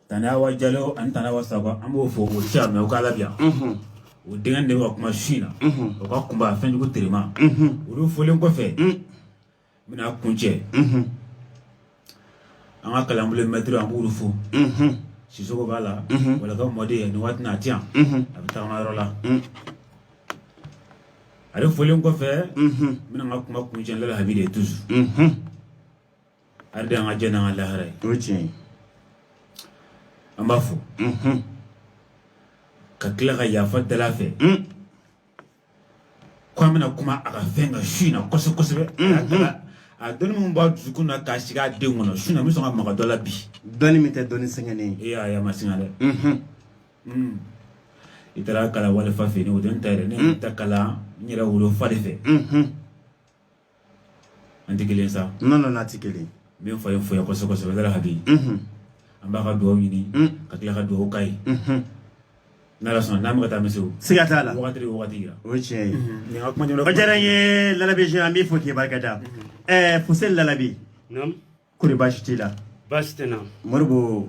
tantawa jalo ani tantawa sakɔ an b'u fo o ca mɛ o k'a labiya o denkɛ de ka kuma su in na o ka kunba fɛnjugu terima olu folen kɔfɛ n bɛna kun cɛ an ka kalanbolo mɛtiri an b'olu fo sisoko b'a la walaka mɔden nin waati n'a ti yan a bɛ tagama yɔrɔ la ale folen kɔfɛ n bɛna ka kuma kun cɛ lala habi de tusu ale de y'an ka diɲɛ n'an ka lahara ye o ye tiɲɛ ye an b'a fo ka tila ka yafa deli a fɛ ko an bɛna kuma a ka fɛn kan su in na kosɛbɛ kosɛbɛ a taara a dɔnni min b'a dusukun na k'a sigi a denw kɔnɔ su in na n bɛ sɔn ka maga dɔ la bi dɔnni min tɛ dɔnni sɛgɛnnen ye e y'a ye a ma singa dɛ i taara kalan wali fa fɛ yen o tɛ n ta yɛrɛ ne ye n ta kalan n yɛrɛ wolofa de fɛ an tɛ kelen sa n nana n'a tɛ kelen min fa ye foyi kosɛbɛ kosɛbɛ da ka bi an b'a ka dugawu ɲini ka tila ka dugawu k'a ye n'a sɔnna n'an ka taa misi siga t'a la waati o tiɲɛ ye ka kuma diyara n ye labi an b'i fo k'i barika da ɛɛ fuseni lalabi kori baasi t'i la baasi tɛ na moribo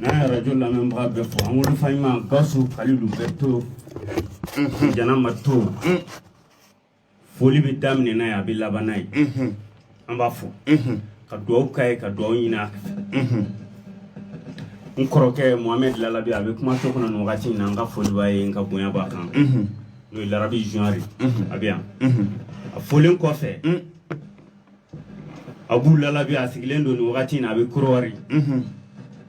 n'an ye arajo lamɛnbaga bɛɛ fo an wolofa ɲuman gawusu kalilu bɛrɛte jana marito foli bɛ daminɛ n'a ye a bɛ laban n'a ye an b'a fo ka dugawu k'a ye ka dugawu ɲini a fɛ n kɔrɔkɛ mohamɛd lalabi a bɛ kumaso kɔnɔ nin wagati in na n ka foli b'a ye n ka bonya b'a kan n'o ye larabi zuwari a bɛ yan a folen kɔfɛ abu lalabi a sigilen don nin wagati in na a bɛ kɔdiwari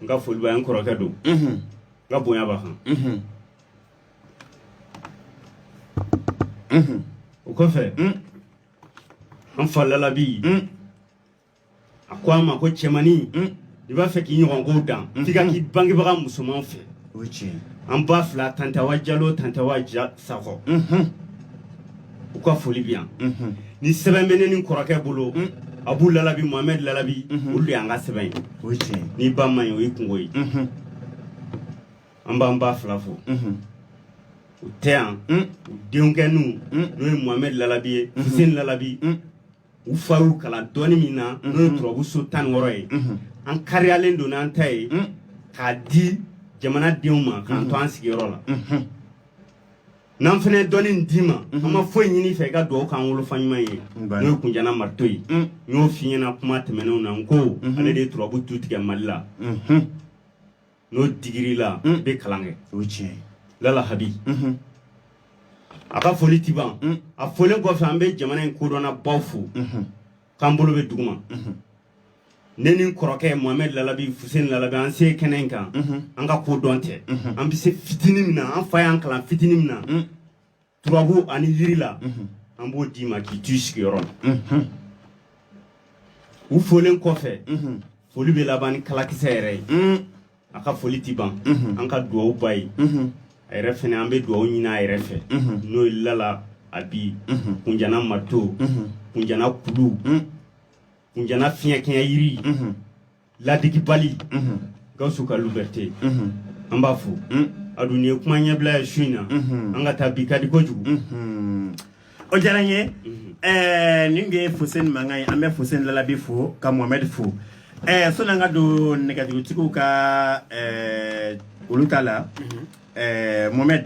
n ka foli b'a ye n kɔrɔkɛ don n ka bonya b'a kan o kɔfɛ an fa lalabi a ko an ma ko cɛmannin i b'a fɛ k'i ɲɔgɔnko dan k'i ka k'i bangebaga musoman fɛ an ba fila tantawa jalo tantawa sakɔ u ka foli bɛ yan ni sɛbɛn bɛ ne ni kɔrɔkɛ bolo abu lalabi mohamɛd lalabi olu de y an ka sɛbɛn ye o tiɲɛ n'i ba ma ye o ye kunko ye an b'an ba fila fo u tɛ yan u denkɛw n'o ye mohamɛd lalabi ye fuseni lalabi u fa y'u kalan dɔnni min na n'o ye turabuso tan wɔɔrɔ ye an kariyalen don n'an ta ye k'a di jamana denw ma k'an to an sigiyɔrɔ la n'an fana ye dɔɔni d'i ma an ma foyi ɲini i fɛ i ka dugawu k'an wolofa ɲuman ye n'o ye kunjana marito ye n y'o f'i ɲɛna kuma tɛmɛnenw na n ko ale de ye turabu tu tigɛ mali la n'o digir'i la i bɛ kalan kɛ o tiɲɛ lala habi a ka foli tɛ ban a folen kɔfɛ an bɛ jamana in kodɔnna baw fo k'an bolo bɛ duguma ne ni n kɔrɔkɛ mohamɛd lalabi fusen lalabi an se kɛnɛ in kan an ka kodɔn tɛ an bɛ se fitinin min na an fa y'an kalan fitinin min na turabu ani yiri la an b'o d'i ma k'i t'i sigiyɔrɔ la u folen kɔfɛ foli bɛ laban ni kalakisɛ yɛrɛ ye a ka foli ti ban an ka dugawu b'a ye a yɛrɛ fɛnɛ an bɛ dugawu ɲini a yɛrɛ fɛ n'o ye lalabi kunjana mato kunjana kulu kunjana fiɲɛkɛɲɛ yiri ladigibali mhm. gawusu kalilu bɛrite mhm. an b'a fo mhm. a dun ye kuma ɲɛbila ye su in na an ka taa bi ka di kojugu o diyara n ye eh, nin de ye fuseni mankan ye an bɛ fuseni lalabi fo ka mohamɛdi fo eh, sɔni an ka don nɛgɛjurutigiw ka eh, olu ta la mohamɛdi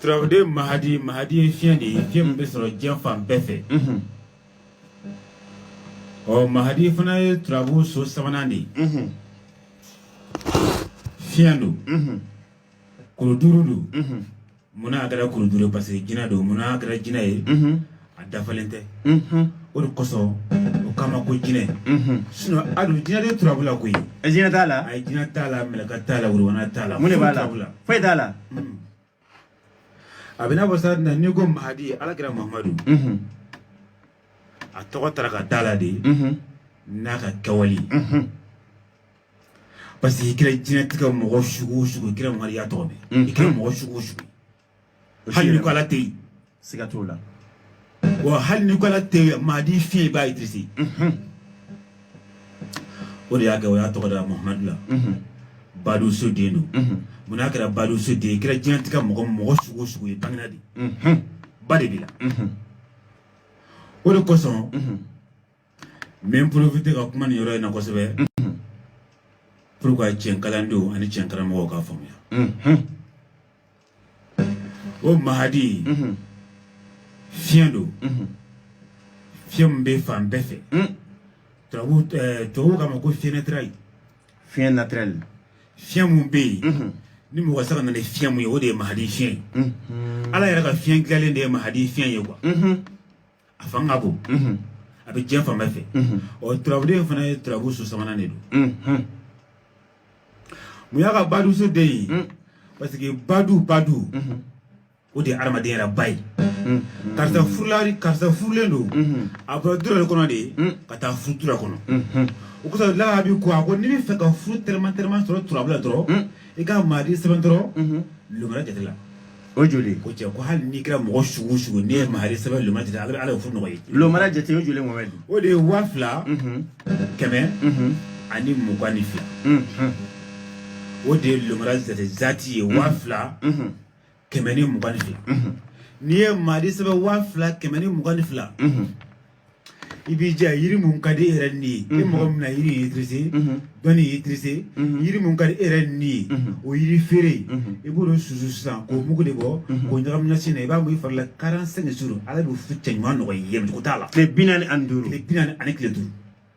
Turaden mahadi mahadi ye fiɲɛ de ye fiɲɛ min bɛ sɔrɔ diɲɛ fan bɛɛ fɛ ɔ mahadi fana ye turabu so sabanan de ye fiɲɛ don kuru duuru don munna a kɛra kuru duuru parce que jinɛ don munna a kɛra jinɛ ye a dafalen tɛ o de kosɔn o k'a ma ko jinɛ sinɔn ali jinɛ tɛ turabu la koyi jinɛ t'a la a ye jinɛ t'a la mɛlɛka t'a la wurubana t'a la mun de b'a la foyi t'a la a bɛ n'a fɔ sa n'i ko mahadi ala kira mamadu a tɔgɔ tara ka d'a la de n'a ka kɛwale parce que i kɛra diɲɛnatigɛ mɔgɔ sugu o sugu i kɛra mariya tɔgɔ mɛn i kɛra mɔgɔ sugu o sugu hali n'i ko ala tɛ yen siga t'o la wa hali n'i ko ala tɛ yen mahadi fiɲɛ b'a intéresser o de y'a kɛ o y'a tɔgɔ da muhamadu la baduso den don munna a kɛra baduso den i kɛra diɲɛnatigɛ mɔgɔ mɔgɔ sugu o sugu ye bangina de ba de b'i la o de kosɔn n bɛ n profiter ka kuma nin yɔrɔ in na kosɛbɛ mhm. pour que cɛn kalandenw ani cɛn karamɔgɔw k'a faamuya mhm. o mahadi mhm. fiɲɛ don fiɲɛ min bɛ fan bɛɛ fɛ tubabu eh, tubabu k'a ma ko fiɲɛ naturel fiɲɛ naturel fiɲɛ mun bɛ yen ni mɔgɔ sera ka na ni fiɲɛ mun ye o de ye mahadi fiɲɛ ye ala yɛrɛ ka fiɲɛ dilanlen de ye mahadi fiɲɛ ye kuwa a fan ka bon a bɛ diɲɛ fan bɛɛ fɛ ɔ turabuden fana ye turabu so sabanan de don mun y'a ka baduso den ye parce que badu badu o de ye adamaden yɛrɛ ba ye karisa furulari karisa furulen don a bɔra du wɛrɛ de kɔnɔ de ye ka taa furu du wɛrɛ kɔnɔ o kosɔn laha bi ko a ko n'i b'a fɛ ka furu teliman teliman sɔrɔ turabu la dɔrɔn i ka maadi sɛbɛn dɔrɔn lomara jate la O joli ko cɛ ko hali n'i kɛra mɔgɔ sugu sugu n'i ye maadi sɛbɛn lomara jate la ala bɛ ala furu nɔgɔya lomara jate o joli mɔgɔ o de ye waa fila kɛmɛ ani mugan ni fila o de ye lomara jate jaati ye waa fila kɛmɛ ni mugan ni fila n'i ye maadi sɛbɛn waa fila kɛmɛ ni mugan ni fila i b'i jija yiri mun ka di e yɛrɛ ni ye e mɔgɔ min na yiri ye tirise dɔnni ye tirise yiri mun ka di e yɛrɛ ni ye o yiri feere i b'o de susu sisan k'o mugu de bɔ k'o ɲagami nasi na i b'a mun i fari la quarante-cinq jours ala bɛ furucɛ ɲuman nɔgɔya i ye siga t'a la tile bi naani ani duuru tile bi naani ani tile duuru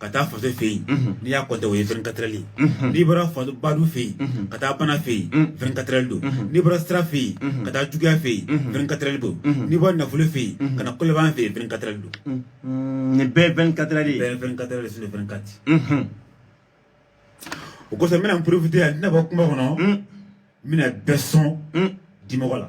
ka taa faso fɛ yen n'i y'a kɔntɛ o ye vingt-quatre de n'i bɔra badu fɛ yen ka taa bana fɛ yen vingt-quatre de don n'i bɔra sira fɛ yen ka taa juguya fɛ yen vingt-quatre de don n'i bɔra nafolo fɛ yen ka na kolaban fɛ yen vingt-quatre de don nin bɛɛ ye vingt-quatre de bɛɛ ye vingt-quatre de sini vingt-quatre o kosɔn n bɛna n porofite yan n tɛna bɔ kuma kɔnɔ n bɛna bɛɛ sɔn dimɔgɔ la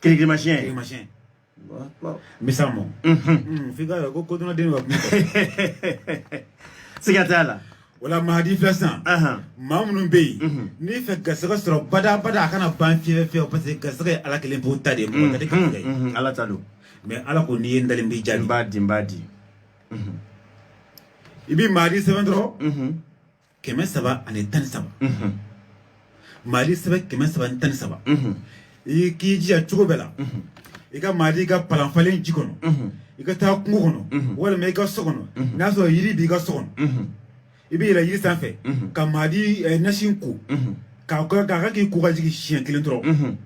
Kirikirimasiɲɛ kirikirimasiɲɛ misa mɔ f'i ka ko kodɔnnaden ka kuma siga t'a la o la mahadi filɛ sisan maa minnu bɛ yen n'i b'a fɛ garisɛgɛ sɔrɔ badabada a kana ban fiyewu fiyewu parce que garisɛgɛ ye ala kelen pe ta de ye mɔgɔ ka di garisɛgɛ ye ala ta don mais ala ko n'i ye n deli n b'i jaabi n b'a di n b'a di i bɛ mahadi sɛbɛn dɔrɔn kɛmɛ saba ani tan ni saba maadi sɛbɛn kɛmɛ saba ni tan ni saba i k'i jija cogo bɛɛ la i ka maadi kɛ palan falen ji kɔnɔ i ka taa kungo kɔnɔ walima i ka so kɔnɔ n'a sɔrɔ yiri b'i ka so kɔnɔ i bɛ yɛlɛ yiri sanfɛ ka maadi eh, nasi ko k'a kɛ k'i ko ka jigin siɲɛ kelen dɔrɔn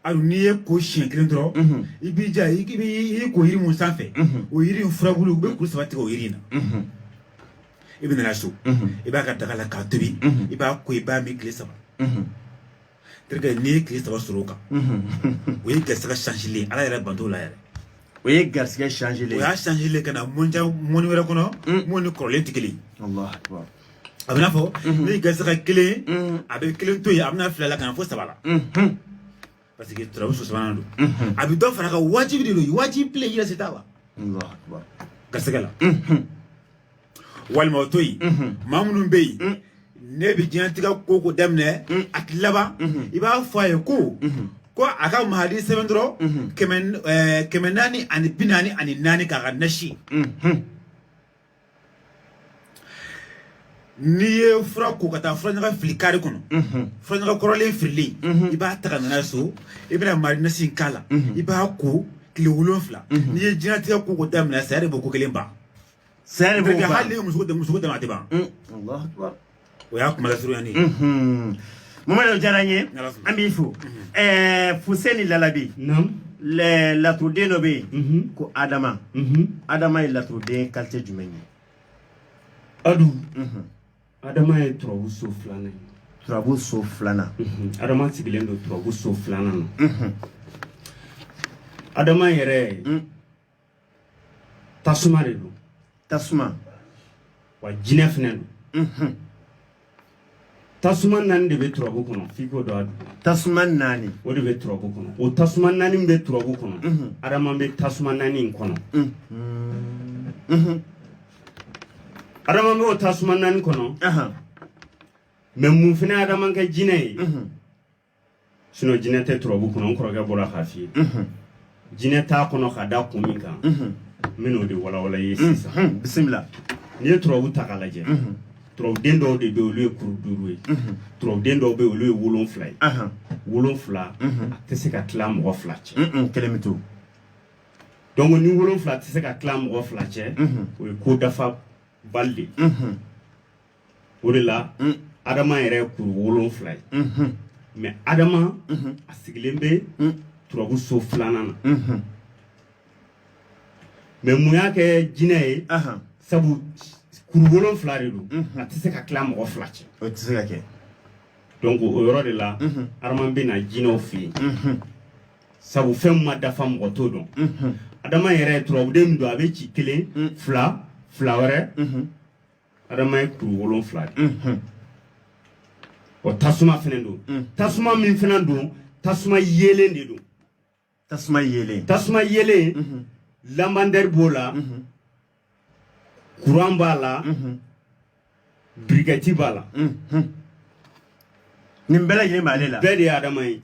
aw n'i y'i ko siɲɛ kelen dɔrɔn mhm. i b'i jija i y'i ko yiri mun sanfɛ mhm. o yiri in furabulu i bɛ kuru saba tigɛ o yiri in na mhm. i bɛ na n'a so i b'a kɛ daga la k'a tobi i b'a ko i b'a min tile saba terikɛ n'i ye tile saba sɔrɔ o kan o ye garisɛgɛ sansilen ala yɛrɛ banto la yɛrɛ o ye garisɛgɛ sansilen o y'a sansilen ka na mɔni wɛrɛ kɔnɔ mun ni kɔrɔlen tɛ kelen ye a bɛna fɔ ni gasaka kelen a bɛ kelen to yen a bɛ na fila la ka na fo saba la parce que turabu so sabanan don a bɛ dɔ fara a kan wajibi de don wajibi pile yɛrɛ se t'a wa gasɛgɛ la walima o to yen maa minnu bɛ yen ne bɛ jinatigɛ ko ko daminɛ a ti laban i b'a fɔ a ye ko ko a ka mahadi sɛbɛn dɔrɔn kɛmɛ naani ani bi naani ani naani k'a kɛ nasi n'i ye fura ko ka taa furaɲaga fili kare kɔnɔ furaɲaga kɔrɔlen fililen i b'a ta ka nana so i bɛna mahadi nasi k'a la i b'a ko tile wolonfila n'i ye jinatigɛ ko ko daminɛ saya de b'o ko kelen ban saya de b'o ban hali muso dama tɛ ban o y'a kuma lasurunyalen ye Mamadu Jara n ye an b'i fo ɛɛ Fuseni Lalabi laturuden dɔ bɛ yen ko Adama Adama ye laturuden kalite jumɛn ye Adu Adama ye turabu so filanan ye turabu so filanan Adama sigilen don turabu so filanan na Adama yɛrɛ tasuma de don tasuma wa jinɛ fana don tasuma naani de bɛ turabu kɔnɔ f'i k'o dɔn a donc tasuma naani o de bɛ turabu kɔnɔ o tasuma naani min bɛ turabu kɔnɔ adama bɛ tasuma naani in kɔnɔ adama bɛ o tasuma naani kɔnɔ mais mun fana ye adama kɛ jinɛ ye jinɛ tɛ turabu kɔnɔ n kɔrɔkɛ bɔra k'a f'i ye jinɛ t'a kɔnɔ ka da kun min kan n bɛn'o de walawala i ye sisan bisimila n'i ye turabu ta k'a lajɛ turabuden dɔw de bɛ olu ye kuru duuru ye turabuden dɔw bɛ olu ye wolonfila ye wolonfila a tɛ se ka tila mɔgɔ fila cɛ kelen bɛ to donc ni wolonfila tɛ se ka tila mɔgɔ fila cɛ o ye ko dafabali de o de la adama yɛrɛ ye kuru wolonfila ye mais adama a sigilen bɛ turabu so filanan na mais mun y'a kɛ jinɛ ye sabu kuru wolonfila de don a tɛ se ka tila mɔgɔ fila cɛ o tɛ se ka kɛ donc o yɔrɔ de la adama bɛ na jinɛw fɛ yen sabu fɛn ma dafa mɔgɔ t'o dɔn adama yɛrɛ turabuden min don a bɛ ci kelen fila fila wɛrɛ adama ye kuru wolonfila de o tasuma fana don tasuma min fana don tasuma yeelen de don tasuma yeelen tasuma yeelen lampadaire b'o la kuran b'a la birikɛti b'a la nin bɛɛ lajɛlen b'ale la bɛɛ de ye adama ye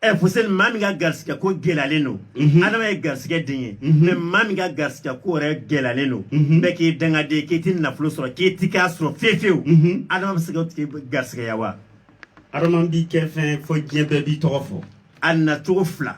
ɛ fuseni maa min ka garisigɛ ko gɛlɛyalen don mhm. adama ye garisigɛ den ye mhm. mɛ maa min ka garisigɛ ko yɛrɛ gɛlɛyalen don mhm. bɛɛ k'i dangaden k'i ti nafolo sɔrɔ k'i ti k'a sɔrɔ fefewu adama bɛ se k'a tigi garisigɛya wa adama b'i kɛ fɛn fɔ diɲɛ bɛɛ b'i tɔgɔ fɔ a nacogo fila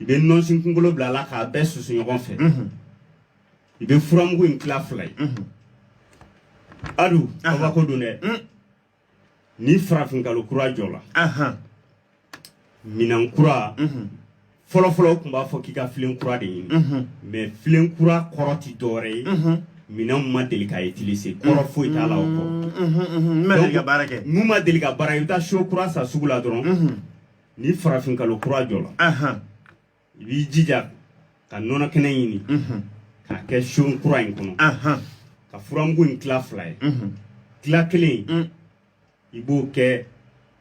i bɛ nɔnsin kunkolo bila a la k'a bɛɛ susu ɲɔgɔn fɛ i bɛ furamugu in tila fila ye adu aw k'o dɔn dɛ ni farafinkalo kura jɔla minɛn kura fɔlɔfɔlɔ tun b'a fɔ k'i ka filen kura de ɲini mɛ filen kura kɔrɔ tɛ dɔwɛrɛ ye minɛn min ma deli ka utilise kɔrɔ foyi t'a la o kɔ min ma deli ka baara kɛ i bɛ taa so kura san sugu la dɔrɔn ni farafin kalo kura jɔla i b'i jija ka nɔnɔ kɛnɛ ɲini k'a kɛ so kura in kɔnɔ ka furamugu in tila fila ye tila kelen mm. i b'o kɛ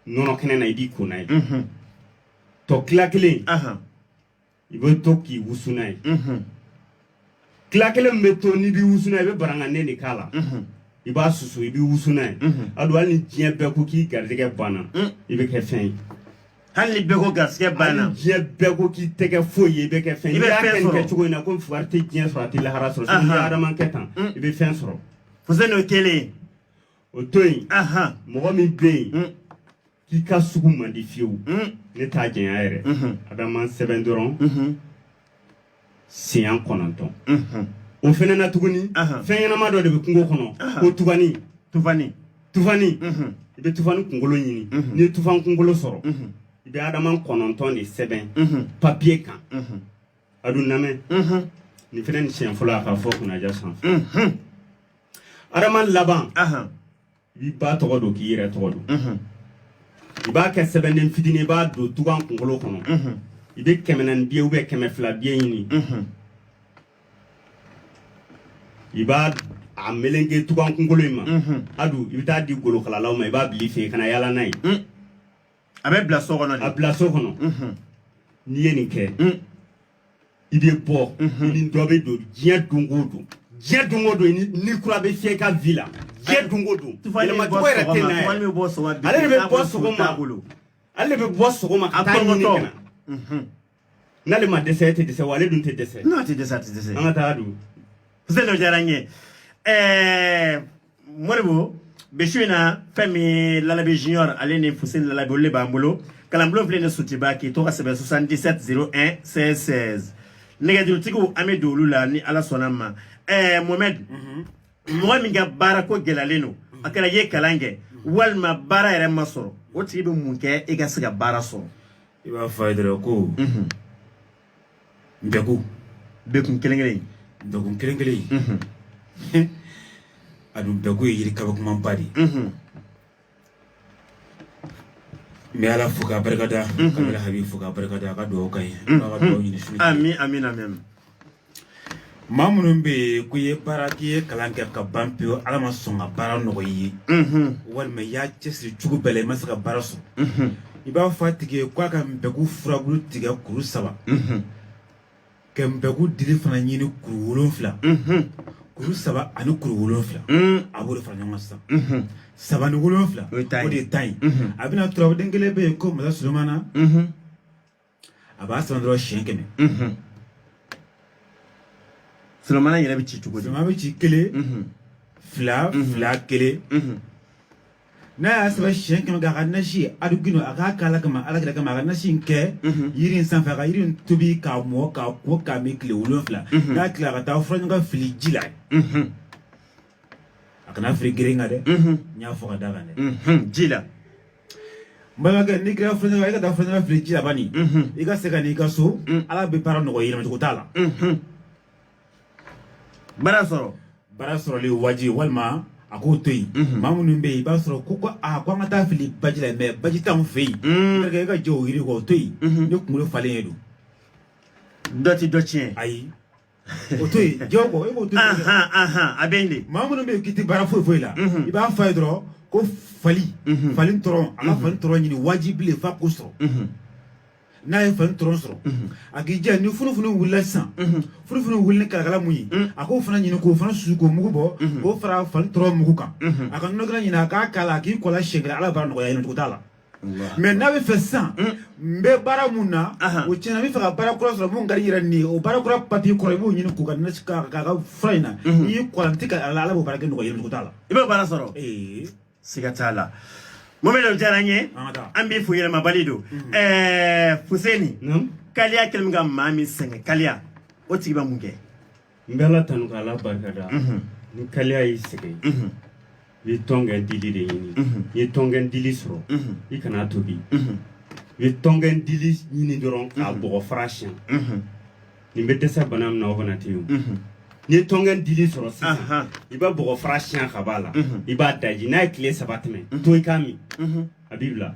nɔnɔ kɛnɛ na i b'i ko n'a ye tɔ tila kelen i bɛ to k'i wusu n'a ye tila kelen min bɛ to n'i bɛ wusu n'a ye i bɛ barakantenin de k'a la i b'a susu i bɛ wusu n'a ye adu hali ni diɲɛ bɛɛ ko k'i garijɛgɛ banna i bɛ kɛ fɛn ye hali ni bɛɛ ko garijɛgɛ banna hali diɲɛ bɛɛ ko k'i tɛ kɛ foyi ye i bɛ kɛ fɛn ye i bɛ fɛn sɔrɔ kɛ cogo in na ko wari tɛ diɲɛ sɔrɔ a tɛ lahara sɔrɔ sini ni adama kɛ tan i bɛ fɛn sɔrɔ fuseni o kelen o to yen mɔgɔ min bɛ yen k'i ka sugu man di fiyewu hmm. ne t'a janya yɛrɛ mhm. a bɛ adama sɛbɛn dɔrɔn mhm. siɲɛ kɔnɔntɔn mhm. o fana na tuguni fɛn ɲɛnama dɔ de bɛ kungo kɔnɔ ko tufani tufani tufani i bɛ tufani kunkolo ɲini n'i ye tufani kunkolo sɔrɔ i bɛ adama kɔnɔntɔn de sɛbɛn papiye kan adu lamɛn nin fana ni siɲɛ fɔlɔ a ka fɔ kunnaja sanfɛ adama laban i b'i ba tɔgɔ don k'i yɛrɛ tɔgɔ don i b'a kɛ sɛbɛnden fitinin i b'a don tugan kunkolo kɔnɔ i bɛ kɛmɛ naani biye ubiyɛn kɛmɛ fila biye ɲini i b'a a meleke tugan kunkolo in ma adu i bɛ taa a di golokalalaw ma i b'a bila i fɛ yen kana yaala n'a ye a bɛ bila so kɔnɔ de a bila so kɔnɔ n'i ye nin kɛ i bɛ bɔ i ni dɔ bɛ don diɲɛ don o don diɲɛ don o don ni kura bɛ fiyɛ i ka vi la diɲɛ don o don yɛlɛma cogo yɛrɛ tɛ na yɛrɛ ale de bɛ bɔ sɔgɔma ale de bɛ bɔ sɔgɔma ka taa a ɲini ka na N'ale ma dɛsɛ e tɛ dɛsɛ wa ale dun tɛ dɛsɛ N'a tɛ dɛsɛ a tɛ dɛsɛ. an ka taa don Selo diyara n ye. Ɛɛ Moribo bi su in na fɛn min ye Lalabi Junior ale ni Fuseni Lalabi olu de b'an bolo. Kalanbulon filɛ nin ye Sotuba k'i to ka sɛbɛn 77 01 16 16. Nɛgɛjurutigiw an bɛ don olu la ni Ala sɔnna ma. Ɛɛ Mohamed mɔgɔ min ka baara ko gɛlɛyalen don a kɛra i ye kalan kɛ walima baara yɛrɛ ma sɔrɔ o tigi bɛ mun kɛ i ka se ka baara sɔrɔ i b'a fɔ a ye dɔrɔn ko npeku npeku kelen kelen npeku kelen kelen a dun npeku ye yiri kabakomaba de ye n bɛ ala fo k'a barikada ka bɛna habi fo k'a barikada a ka dugawu k'an ye a ka dugawu ɲini su ami ami ami maa minnu bɛ yen k'u ye baara k'i ye kalan kɛ ka ban pewu ala ma sɔn ka baara nɔgɔ i ye walima y'a cɛsiri cogo bɛɛ la i ma se ka baara sɔrɔ i b'a fɔ a tigi ye k'a ka npeku furabulu tigɛ kuru saba ka npeku dili fana ɲini kuru wolonfila kuru saba ani kuru wolonfila a b'o de fara ɲɔgɔn sisan saba ni wolonfila o de ye tan ye a bɛna turaden kelen bɛ yen ko masa solomana a b'a sɛbɛn dɔrɔn siɲɛ kɛmɛ solomana yɛrɛ bɛ ci cogo di solomana bɛ ci kelen fila fila kelen n'a y'a sɛbɛn siɲɛ kɛmɛ kɛ a ka nasi ye adugino a k'a k'ala kama ala kira kama a ka nasi in kɛ yiri in sanfɛ a ka yiri in tobi k'a mɔ k'a ko k'a min tile wolonfila n'a tila a ka taa furaɲaga fili ji la a kana fili gɛrɛ kan dɛ n m'a fɔ kɔda kan dɛ ji la balimakɛ n'i kɛra fɛnɲɛna i ka taa furaɲaga fili ji la bani i ka se ka n'i ka so ala bɛ baara nɔgɔya yɛlɛmacogo t'a la baara sɔrɔ baara sɔrɔli wajibi walima a k'o to yen maa minnu bɛ yen i b'a sɔrɔ ko ko aa ko an ka taa fili baji la mɛ baji t'anw fɛ yen i ka jɛ o yiri kɔ o to yen ne kunkolo falen ye don dɔ tɛ dɔ tiɲɛ ayi o to yen j'o kɔ e b'o to yen a bɛ yen de maa minnu bɛ yen k'i tɛ baara foyi foyi la i b'a fɔ a ye dɔrɔn ko fali fali tɔrɔn a ka fali tɔrɔn ɲini wajibi le f'a k'o sɔrɔ n'a ye fali tɔrɔn sɔrɔ a k'a ja ni funufunu wulila sisan funufunu wuli ni kalakala mun ye a k'o fana ɲini k'o fana susu k'o mugu bɔ k'o fara fali tɔrɔn mugu kan a ka nɔnɔkɛnɛ ɲini a k'a k'a la a k'i ko a la siɲɛ kelen ala bɛ baara nɔgɔya yɛlɛmacogo t'a la mɛ n'a bɛ fɛ sisan n bɛ baara mun na o tiɲɛna n b'a fɛ ka baara kura sɔrɔ mun ka di yɛrɛ ni ye o baara kura papiye kɔrɔ i b'o ɲini k'u ka k'a ka fura in na n'i y'i ko a la ten ka ala ala b'o baarako nɔgɔya yɛlɛmacogo t'a la i bɛ baara sɔrɔ siga t'a la mɔmɛdɛ o diyara n ye an b'i fo yɛlɛmabali don ɛɛ fuseni kaliya kɛlen ka maa min sɛgɛn kaliya o tigi bɛ mun kɛ n bɛ ala tanu ka ala barikada ni kaliya y'i sɛgɛn i bɛ tɔnkɛn dili de ɲini n'i ye tɔnkɛn dili sɔrɔ i kan'a tobi i bɛ tɔnkɛn dili ɲini dɔrɔn k'a bɔgɔ fara siyɛn nin bɛ dɛsɛ bana min na o bana tɛ yen n'i ye tɔnkɛn dili sɔrɔ sisan i bɛ bɔgɔ fara siyɛn k'a b'a la i b'a daji n'a ye tile saba tɛmɛ to i k'a min a b'i bila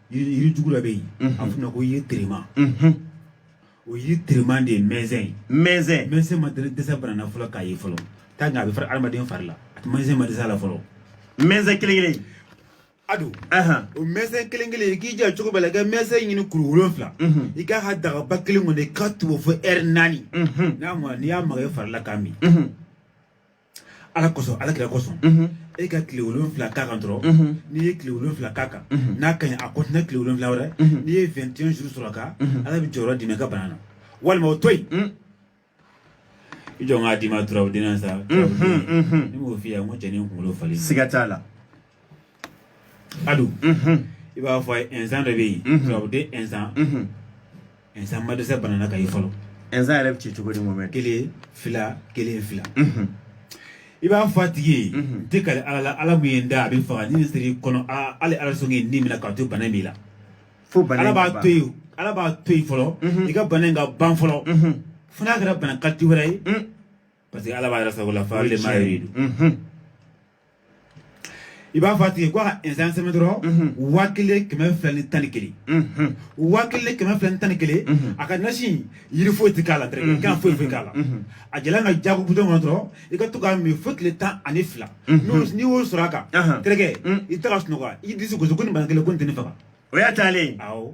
yiri jugu dɔ bɛ yen a f'o ma ko yiri terima o yiri terima de ye mɛnzɛn ye mɛnzɛn mɛnzɛn ma deli dɛsɛ bana na fɔlɔ k'a ye fɔlɔ t'a nka a bɛ fara adamaden fari la a tɛ mɛnzɛn ma dɛsɛ a la fɔlɔ mɛnzɛn kelen kelen ado o mɛnzɛn kelen kelen i k'i jija cogo bɛɛ la i ka mɛnzɛn ɲini kuru wolonfila i k'a kɛ dagaba kelen kɔnɔ i k'a tobi fo ɛri naani n'a mɔna n'i y'a maga i fari la k'a min ala kosɔn ala kira kosɔn e ka tile wolonfila k'a kan dɔrɔn n'i ye tile wolonfila k'a kan n'a ka ɲi a kɔntinɛ tile wolonfila wɛrɛ n'i ye 21 jours sɔrɔ ka ala bɛ jɔyɔrɔ d'i ma i ka bana na walima o to yen i jɔ n k'a d'i ma turabu de la sa ne m'o f'i ye n ko cɛnin kunkolo falen siga t'a la adu i b'a fɔ a ye ɛnsan dɔ bɛ yen turabu den ɛnsan ɛnsan ma dɛsɛ bana na k'a ye fɔlɔ ɛnsan yɛrɛ bɛ ci cogo di mɔmɛ kelen fila kelen fila i b'a fɔ a tigi ye n tɛ kali ala la ala min ye n da a bɛ n faga ni nin sera i kɔnɔ aa hali ala sɔnni ye ni minɛ k'a to bana in b'i la fo bana ala in b'a b'a to yen ala b'a to yen fɔlɔ i ka bana in ka ban fɔlɔ fo n'a kɛra bana kalite wɛrɛ ye parce que ala b'a yɛrɛ sago la fa le ma ye i b'a fɔ a tigi ko a ka ɛnsan sɛbɛn dɔrɔn waa kelen kɛmɛ fila ni tan ni kelen waa kelen kɛmɛ fila ni tan ni kelen a k'a nasi yiri foyi tɛ k'a la terikɛ foyi foyi k'a la a jalan kɛ jago butɔn kɔnɔ dɔrɔn i ka to k'a min fo tile tan ani fila n'i y'o sɔrɔ a kan terikɛ i tɛ ka sunɔgɔ i disi gosi ko nin bana kelen ko nin tɛ ne faga o y'a taalen awɔ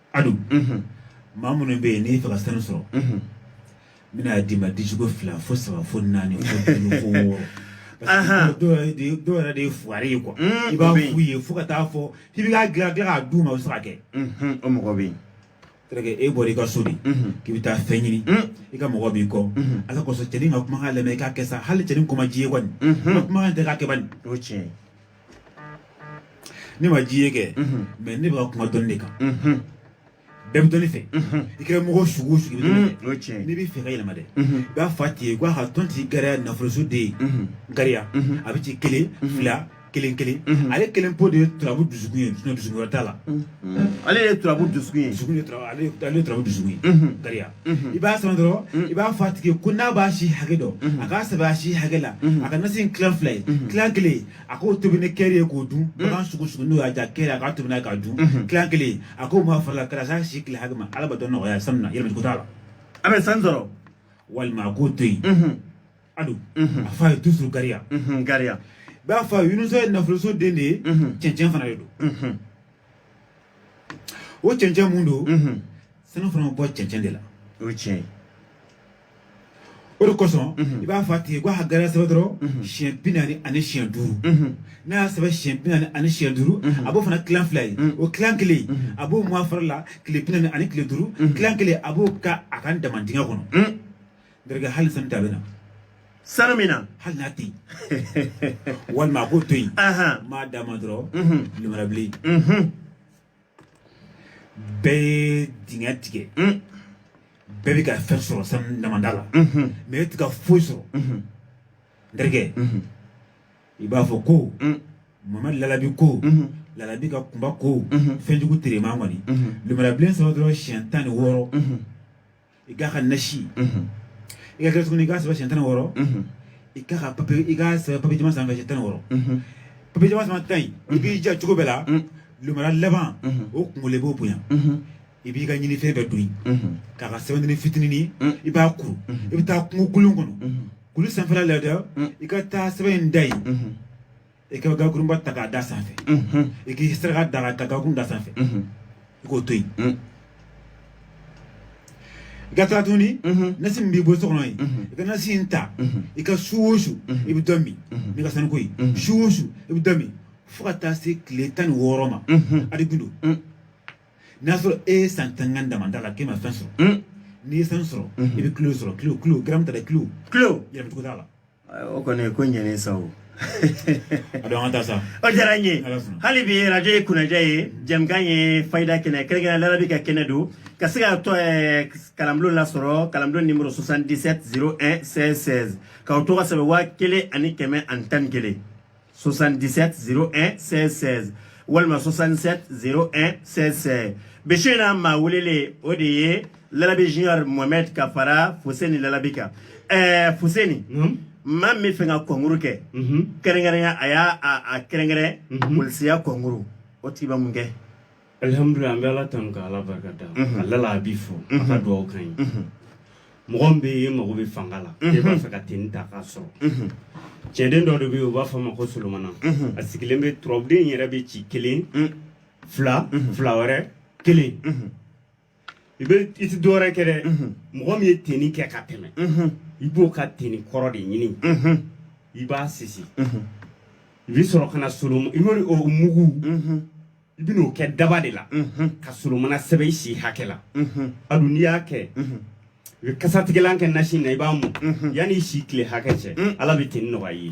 adu maa minnu bɛ yen n'i fɛ ka sanu sɔrɔ n bɛn'a d'i ma dijugo fila fo saba fo naani fo duuru fo wɔɔrɔ dɔw yɛrɛ de ye fugari ye quoi i b'a f'u ye fo ka taa fɔ k'i bɛ k'a dilan dilan k'a d'u ma o bɛ se ka kɛ o mɔgɔ bɛ yen terikɛ e bɔra i ka so de k'i bɛ taa fɛn ɲini i ka mɔgɔ b'i kɔ ala kosɔn cɛnin ka kumakan lamɛn i k'a kɛ sa hali cɛnin ko man d'i ye kɔni kumakan ta k'a kɛ bani o tiɲɛ Ne man d'i ye kɛ mais ne bɛ ka kuma dɔn de kan denmisɛnni fɛ i kɛra mɔgɔ sugu sugu ne bɛ fɛ ka yɛlɛma dɛ i b'a fa tɛ yen k'a ka tɔn tɛ gariya nafoloso de ye gariya a bɛ ci kelen fila kelen kelen ale kelen pe de ye turabu dusu ye dusu wɛrɛ t'a la ale ye turabu dusu ye ale turabu dusu ye gariya Mhm. i b'a sɛbɛn dɔrɔn mhm. i b'a fɔ a tigi ko n'a b'a si hakɛ dɔn mhm. a k'a sɛbɛn a si hakɛ la a ka nasi in tilan fila ye tilan kelen a k'o tobi ni kɛri ye k'o dun bagan sugu sugu n'o y'a ja kɛri a k'a tobi n'a ye k'a dun tilan kelen a k'o mun a fari la ka taa s'a si tile hakɛ ma ala b'a dɔn nɔgɔya sanu na yɛlɛmɛ ko t'a la a bɛ sanu sɔrɔ walima a k'o to yen Ado a fa ye dusu gariya gariya b'a fa yesa ye nafoloso den de ye cɛncɛn fana de don o cɛncɛn min don sanu fana bɔ cɛncɛn de la o tiɲɛ o de kosɔn i b'a fɔ a tigi ko gariya sɛbɛn dɔrɔn siɲɛ bi naani ani siɲɛ duuru n'a y'a sɛbɛn siɲɛ bi naani ani siɲɛ duuru a b'o fana tilan fila ye o tilan kelen a b'o mun a fari la tile bi naani ani tile duuru tilan kelen a b'o kɛ a ka daman dingɛ kɔnɔ N terikɛ hali sanu ta bɛna. Sanu min na. Hali n'a tɛ yen. Walima a k'o to yen. N b'a d'a ma dɔrɔn. Lumara bilen. Bɛɛ ye dingɛ tigɛ. Bɛɛ bɛ ka fɛn sɔrɔ sanu damanda la. Mɛ e tɛ ka foyi sɔrɔ. N terikɛ. I b'a fɔ ko. Mamadu lalabi ko. Lalabi ka kunba ko. Fɛnjugu tere man kɔni. Lumara bilen sɛbɛn dɔrɔn siɲɛ tan ni wɔɔrɔ. i k'a kɛ nasi ye i ka kɛ tuguni i k'a sɛbɛn siɲɛ tan ni wɔɔrɔ i k'a kɛ papiye i k'a sɛbɛn papiye jɛman sanfɛ siɲɛ tan ni wɔɔrɔ papiye jɛman sanfɛ tan in i b'i jija cogo bɛɛ la lumara laban o kunkolo i b'o bonya i b'i ka ɲinifɛn bɛɛ don yen k'a kɛ sɛbɛnnin fitinin i b'a kuru i bɛ taa kungo kolon kɔnɔ kulu sanfɛla la dɛ i ka taa sɛbɛn in da yen i ka gakurunba ta k'a da sanfɛ i k'i saraka da ka gakurun d'a sanfɛ i k'o to yen i ka taa tuguni nasi min b'i bolo so kɔnɔ yen i ka nasi in ta i ka su o su i bɛ dɔ min n'i ka sanuko ye su o su i bɛ dɔ min fo ka taa se tile tan ni wɔɔrɔ ma ala b'o dɔn n'a sɔrɔ e ye san tan kɛ damanda la k'e ma fɛn sɔrɔ n'i ye fɛn sɔrɔ i bɛ kilo sɔrɔ kilo kilo garamu t'a la kilo kilo yɛlɛma cogo t'a la o kɔni ko ɲɛnen sa o a dɔn an ka taa sa o diyara n ye Ala sɔnna. hali bi radio ye Kunnadiya ye jɛmukan ye fayida kɛnɛ kɛrɛnkɛrɛn lalabi ka kɛnɛ don ka se ka tɔ eh, kalanbulon lasɔrɔ kalanbulon nimero 77 01 16 16 k'aw tɔgɔ sɛbɛn waa kelen ani kɛmɛ ani tan ni kelen 77 01 16 16 walima 67 01 16 16 bi su in na maa welelen o de ye lalabi junior mohamɛd ka fara fuseni lalabi kan ɛɛ fuseni maa min b'a fɛ ka kɔnkuru kɛ kɛrɛnkɛrɛnya a y'a a kɛrɛnkɛrɛn polisiya kɔnkuru o tigi bɛ mun kɛ Alihamudulila an bɛ ala tanu ka ala barika da a lalabi fo a ka dugawu ka ɲi mɔgɔ bɛ yen mago bɛ fanga la e b'a fɛ ka teni ta k'a sɔrɔ cɛnden dɔ de bɛ yen u b'a fɔ a ma ko solomana a sigilen bɛ turabuden yɛrɛ bɛ ci kelen fila fila wɛrɛ kelen i bɛ i tɛ dɔwɛrɛ kɛ dɛ mɔgɔ min ye tenni kɛ ka tɛmɛ i b'o ka tenni kɔrɔ de ɲini i b'a sisi i bɛ sɔrɔ ka na solon i bɛ o mugu i bɛn'o kɛ daba de la ka solomana sɛbɛn i si hakɛ la a dun n'i y'a kɛ i bɛ kasatigɛlan kɛ nasi na i b'a mun yanni i si tile hakɛ cɛ ala bɛ tenni nɔgɔya i ye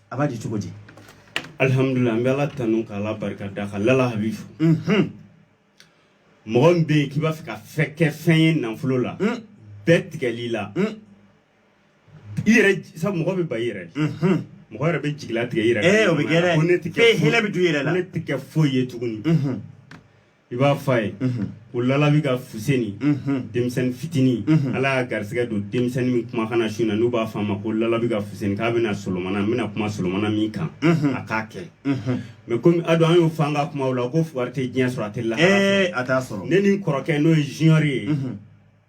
a b'a di cogo di alihamudulila an bɛ ala tanu ka ala barika da ka lala habi fo mɔgɔ min bɛ yen k'i b'a fɛ ka fɛ kɛ fɛn ye nafolo la bɛɛ tigɛlen i la i yɛrɛ sabu mɔgɔ bɛ ban i yɛrɛ mɔgɔ yɛrɛ bɛ jigila tigɛ i yɛrɛ ee o bɛ kɛ dɛ ko ne tɛ kɛ fɛn hɛlɛ bɛ don i yɛrɛ la ko ne tɛ kɛ foyi ye tuguni i b'a fɔ a ye ko lalabi ka fuseni denmisɛnnin fitinin ala y'a garisɛgɛ don denmisɛnnin min kuma kana su na n'u b'a fɔ a ma ko lalabi ka fuseni k'a bɛna solomana n bɛna kuma solomana min kan a k'a kɛ mɛ komi a don an y'o fɔ an ka kumaw la ko fugari tɛ diɲɛ sɔrɔ a tɛ lahara sɔrɔ a t'a sɔrɔ ne ni n kɔrɔkɛ n'o ye junior ye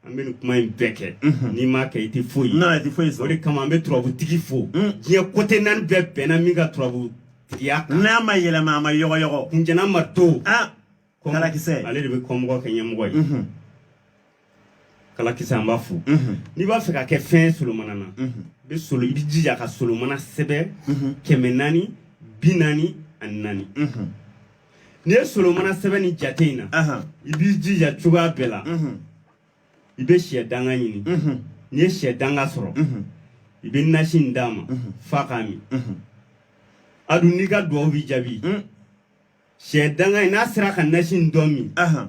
an bɛ nin kuma in bɛɛ kɛ n'i m'a kɛ i tɛ foyi ye i tɛ foyi sɔrɔ o de kama an bɛ turabutigi fo diɲɛ kote naani bɛɛ bɛnna min ka turabutigiya kan n'a ma yɛlɛma a ma yɔgɔyɔgɔ kunjɛna ma to kalakisɛ ale de bɛ kɔmɔgɔ kɛ ɲɛmɔgɔ ye kalakisɛ an b'a fo n'i b'a fɛ ka kɛ fɛn solomana na i bɛ solo i b'i jija ka solomana sɛbɛn kɛmɛ naani bi naani ani naani n'i ye solomana sɛbɛn ni jate in na Ahan. i b'i jija cogoya bɛɛ la Mhm. i bɛ shɛ danga ɲini Mhm. n'i ye shɛ danga sɔrɔ Mhm. i bɛ nasi in d'a ma f'a k'a min Mhm. a dun n'i ka duwawu bɛ jaabi Mm. shɛ danga in n'a sera ka nasi in dɔ min Ahan.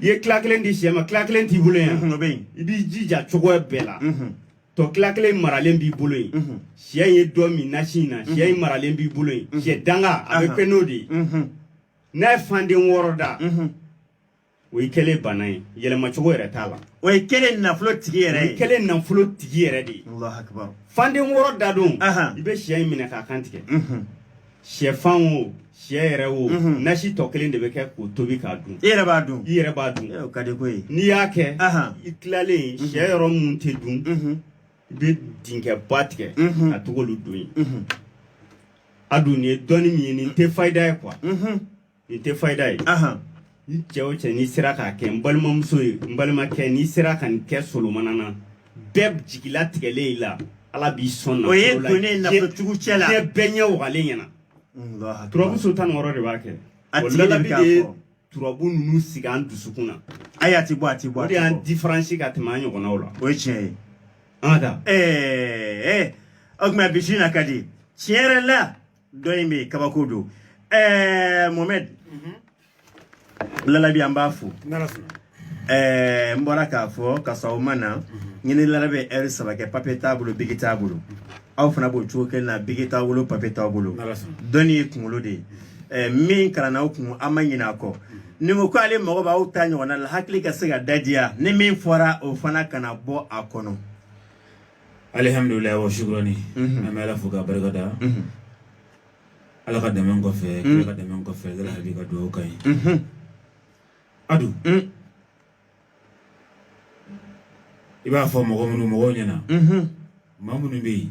i ye tila kelen di shɛ ma tila kelen t'i bolo yan o bɛ yen i b'i jija cogoya bɛɛ la tɔ tila kelen maralen b'i bolo yen shɛ ye dɔ min nasi in na shɛ in maralen b'i bolo yen shɛ danga a bɛ fɛn n'o de ye n'a ye fanden wɔɔrɔ da o y'i kɛlen baana ye yɛlɛma cogo yɛrɛ t'a la o y'i kɛlen nafolotigi yɛrɛ ye kɛlen nafolotigi yɛrɛ de ye fanden wɔɔrɔ da don i bɛ shɛ in minɛ k'a kan tigɛ shɛfan o shɛ yɛrɛ o mhm. nasi tɔ kelen de bɛ kɛ k'o tobi k'a dun i yɛrɛ b'a dun i yɛrɛ b'a dun o ka di ko ye n'i y'a kɛ i tilalen mhm. shɛ yɔrɔ minnu tɛ dun mhm. i bɛ dinkɛba tigɛ ka tag'olu don yen a dun nin ye dɔnni min ye nin tɛ fayida ye kuwa Nin tɛ fayida ye n cɛ o cɛ n'i sera k'a kɛ n balimamuso ye n balimakɛ n'i sera ka nin kɛ solomana na bɛɛ jigila tigɛlen i la ala b'i sɔn o ye donnen nafacogo cɛ la diɲɛ bɛɛ ɲɛ wagalen ɲɛna turabu so tan wɔɔrɔ de b'a kɛ lalabi de ye turabu ninnu sigi an dusukun na ayi a tɛ bɔ a tɛ bɔ o de y'an diferansi ka tɛmɛ an ɲɔgɔnnaw la o ye tiɲɛ ye an ka taa ɛɛ o tuma bi su in na ka di tiɲɛ yɛrɛ la dɔ in bɛ yen kabako don ɛɛ mohamɛd lalabi an b'a fo ɛɛ n bɔra k'a fɔ ka sɔrɔ o ma na ne ni lalabi ye ɛri saba kɛ papiye t'a bolo biki t'a bolo aw fana b'o cogo kelen na biki t'aw bolo papiye t'aw bolo dɔnni ye kunkolo de ye ɛɛ min kalanna aw kun aw ma ɲinɛ a kɔ ni ko k'ale mago b'aw ta ɲɔgɔnna la hakili ka se ka dadiya ni min fɔra o fana kana bɔ a kɔnɔ alihamdulila wa shukurani an bɛ ala fo ka barika da ala ka dɛmɛ kɔfɛ ala ka dɛmɛ kɔfɛ ala habi ka dugawu ka ɲi adu i b'a fɔ mɔgɔ minnu mɔgɔw ɲɛna maa minnu bɛ yen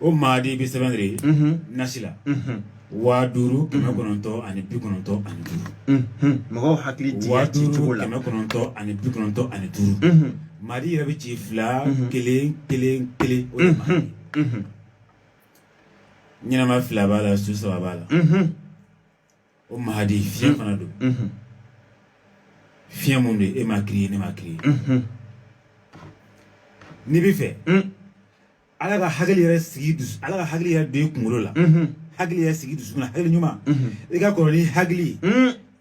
o madi bɛ sɛbɛn de nasi la waa duuru kɛmɛ kɔnɔntɔn ani bi kɔnɔntɔn ani duuru mɔgɔw hakili waa duuru la kɛmɛ kɔnɔntɔn ani bi kɔnɔntɔn ani duuru madi yɛrɛ bɛ ci fila kelen kelen kelen o de ma ɲɛnama fila b'a la su saba b'a la O madi fiɲɛ fana don fiɲɛ mun don e ma ki ye ne ma ki n'i b'a fɛ ala ka hakili yɛrɛ sigi ala ka hakili yɛrɛ don i kunkolo la hakili yɛrɛ sigi dusu na hakili ɲuman i ka kɔrɔ ni hakili ye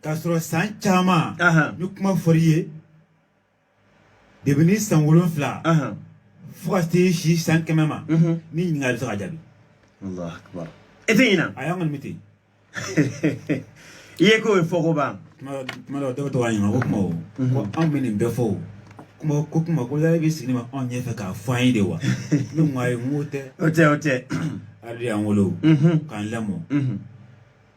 k'a sɔrɔ san caman ni kuma fɔr'i ye dɛbɛ ni san wolonwula fo ka se si san kɛmɛ ma ni ɲininkali bɛ se ka jaabi e tɛ ɲinan a y'an kɔni bɛ ten i ye k'o ye fɔko ban tuma dɔw dɔw bɛ to ka ɲininka ko kuma o ko anw bɛ nin bɛɛ fɔ o kuma ko kuma ko yala bɛ sigi ma anw ɲɛfɛ k'a fɔ an ye de wa ne ko ayi n k'o tɛ o tɛ o tɛ ale y'an wolo k'an lamɔ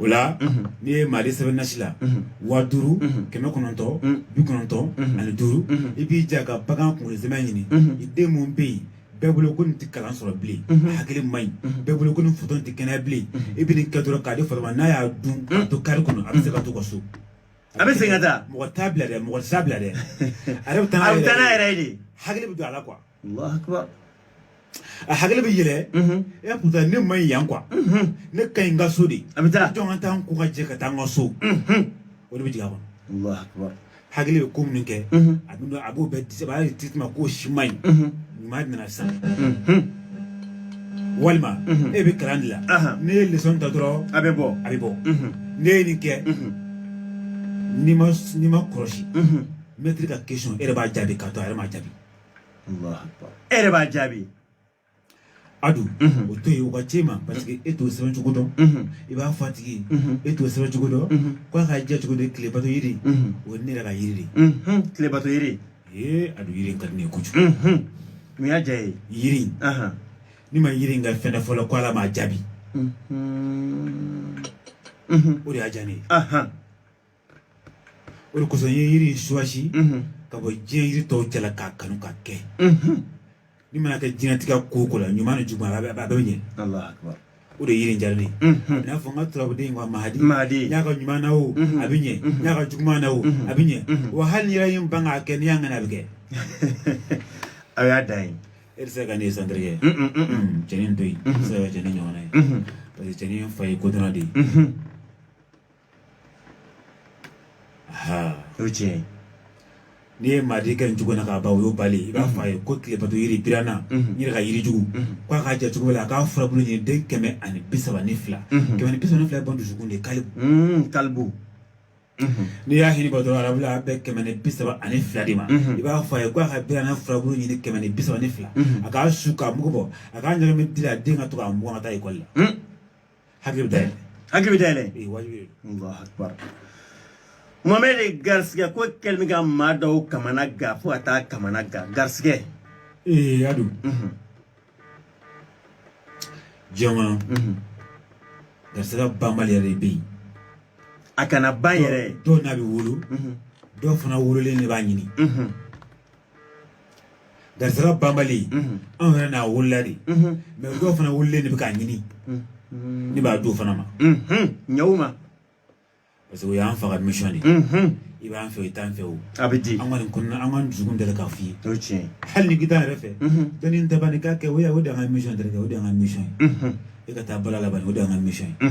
o la n'i ye madi sɛbɛn nasi la waa duuru kɛmɛ kɔnɔntɔn bi kɔnɔntɔn ani duuru i b'i ja ka bagan kunkolo sɛmɛ ɲini i den min bɛ yen bɛɛ bolo ko nin tɛ kalan sɔrɔ bilen hakili man ɲi bɛɛ bolo ko nin fatɔ tɛ kɛnɛya bilen i bɛ nin kɛ dɔrɔn k'a di fatɔ ma n'a y'a dun ka to kari kɔnɔ a bɛ se ka taa a ka so a bɛ segin ka taa mɔgɔ t'a bila dɛ mɔgɔ t'a bila dɛ a yɛrɛ bɛ taa n'a yɛrɛ ye de hakili bɛ don a la kuwa Allahu akbar a hakili bɛ yɛlɛ e kun tɛ ne man ɲi yan kuwa ne ka ɲi n ka so de a bɛ taa jɔn ka taa n ko ka jɛ ka taa n ka so o de bɛ jigin a kɔnɔ Allahu akbar hakili bɛ ko minnu kɛ a bɛ a b'o bɛɛ disaba a y'a ye tituma k'o si man ɲi ɲuman nana sisan walima e bɛ kalan de la n'i ye leçon ta dɔrɔn a bɛ bɔ a bɛ bɔ n'i ye nin kɛ n'i ma n'i m'i kɔlɔsi mɛtiri ka question e yɛrɛ b'a jaabi k'a to a yɛrɛ m'a jaabi Alahu akibaru. E yɛrɛ b'a jaabi. Adu. Unhun. O to yen, o ka c'i ma. Parce que e t'o sɛbɛn cogo dɔn. Unhun. I b'a fɔ a tigi ye. Unhun. E t'o sɛbɛn cogo dɔn. Unhun. Ko a ka jɛ cogo di tile bato yiri. Unhun. O ye ne yɛrɛ ka yiri de ye. Unhun. Tile bato yiri. Ee Adu yiri in ka di ne ye kojugu. Unhun. Mun y'a diya ye? Yiri in. Ahan. Ne ma yiri in kɛ fɛn na fɔlɔ ko Ala m'a jaabi. Unhun. Unhun. O de y'a diya ne ye. Ahan. o de kosɔn n ye yiri in choisi ka bɔ diɲɛ yiri tɔw cɛla k'a kanu ka kɛ ni mana kɛ diɲɛlatigɛ ko o ko la ɲuman ni juguman a bɛ a bɛ ɲɛ o de yiri jali n'a fɔ n ka turabuden ka mahadi mahadi n'a kɛra ɲuman na o a bɛ ɲɛ n'a kɛra juguman na o a bɛ ɲɛ wa hali yɛrɛ in ban k'a kɛ n'i y'a ŋana a bɛ kɛ aw y'a dan ye e tɛ se ka ne ye santiri kɛ cɛnin to yen e tɛ se ka cɛnin ɲɔgɔnna ye parce que cɛnin fa ye kodɔnna de ye o tiɲɛ n'i ye maa kɛ nin cogo na k'a ban o y'o bali i b'a fɔ a ye ko tilebato yiri biranna n yɛrɛ ka yiri jugu k'a k'a jɛ cogo la a k'a furabulu ɲini den kɛmɛ ani bi saba ni fila kɛmɛ ni bi saba ni fila ye ban dusukun de kalibu kalibu n'i y'a hiri dɔrɔn arabu a bɛ bɛn kɛmɛ ni bi saba ani fila de ma i b'a fɔ a ye k'a ka biranna furabulu ɲini kɛmɛ ni bi saba ni fila a k'a susu k'a mugu bɔ a k'a ɲagami di la den ka to k'a mugan ka taa ekɔli la Hakili bɛ dayɛlɛ. Hakili bɛ dayɛlɛ. Ee wajibi de don. Alahu akibaru. Mohamɛdi garisigɛ ko kɛlen bɛ ka maa dɔw kamana gan fo ka taa kamana gan garisigɛ. E y'a dɔn. Unhun. Diɲɛ kɔnɔ. Unhun. Garisigɛ banbali yɛrɛ de bɛ yen. A kana ban yɛrɛ. Dɔw n'a bɛ wolo. Unhun. Dɔw fana wololen de b'a ɲini. Unhun. garisɛgɛ banbali anw yɛrɛ n'a wolola de mais dɔw fana wololen de bɛ k'a ɲini ne b'a don fana ma ɲɛw ma parce que o y'an fana ka mission de i b'an fɛ i t'an fɛ o a bɛ di an kɔni kɔnɔna an kɔni dusukun deli k'a f'i ye o ye tiɲɛ ye hali n'i t'an yɛrɛ fɛ dɔnni n tɛ ban k'a kɛ o ya o de y'an ka mission deli kɛ o de y'an ka mission ye i ka taa bala laban o de y'an ka mission ye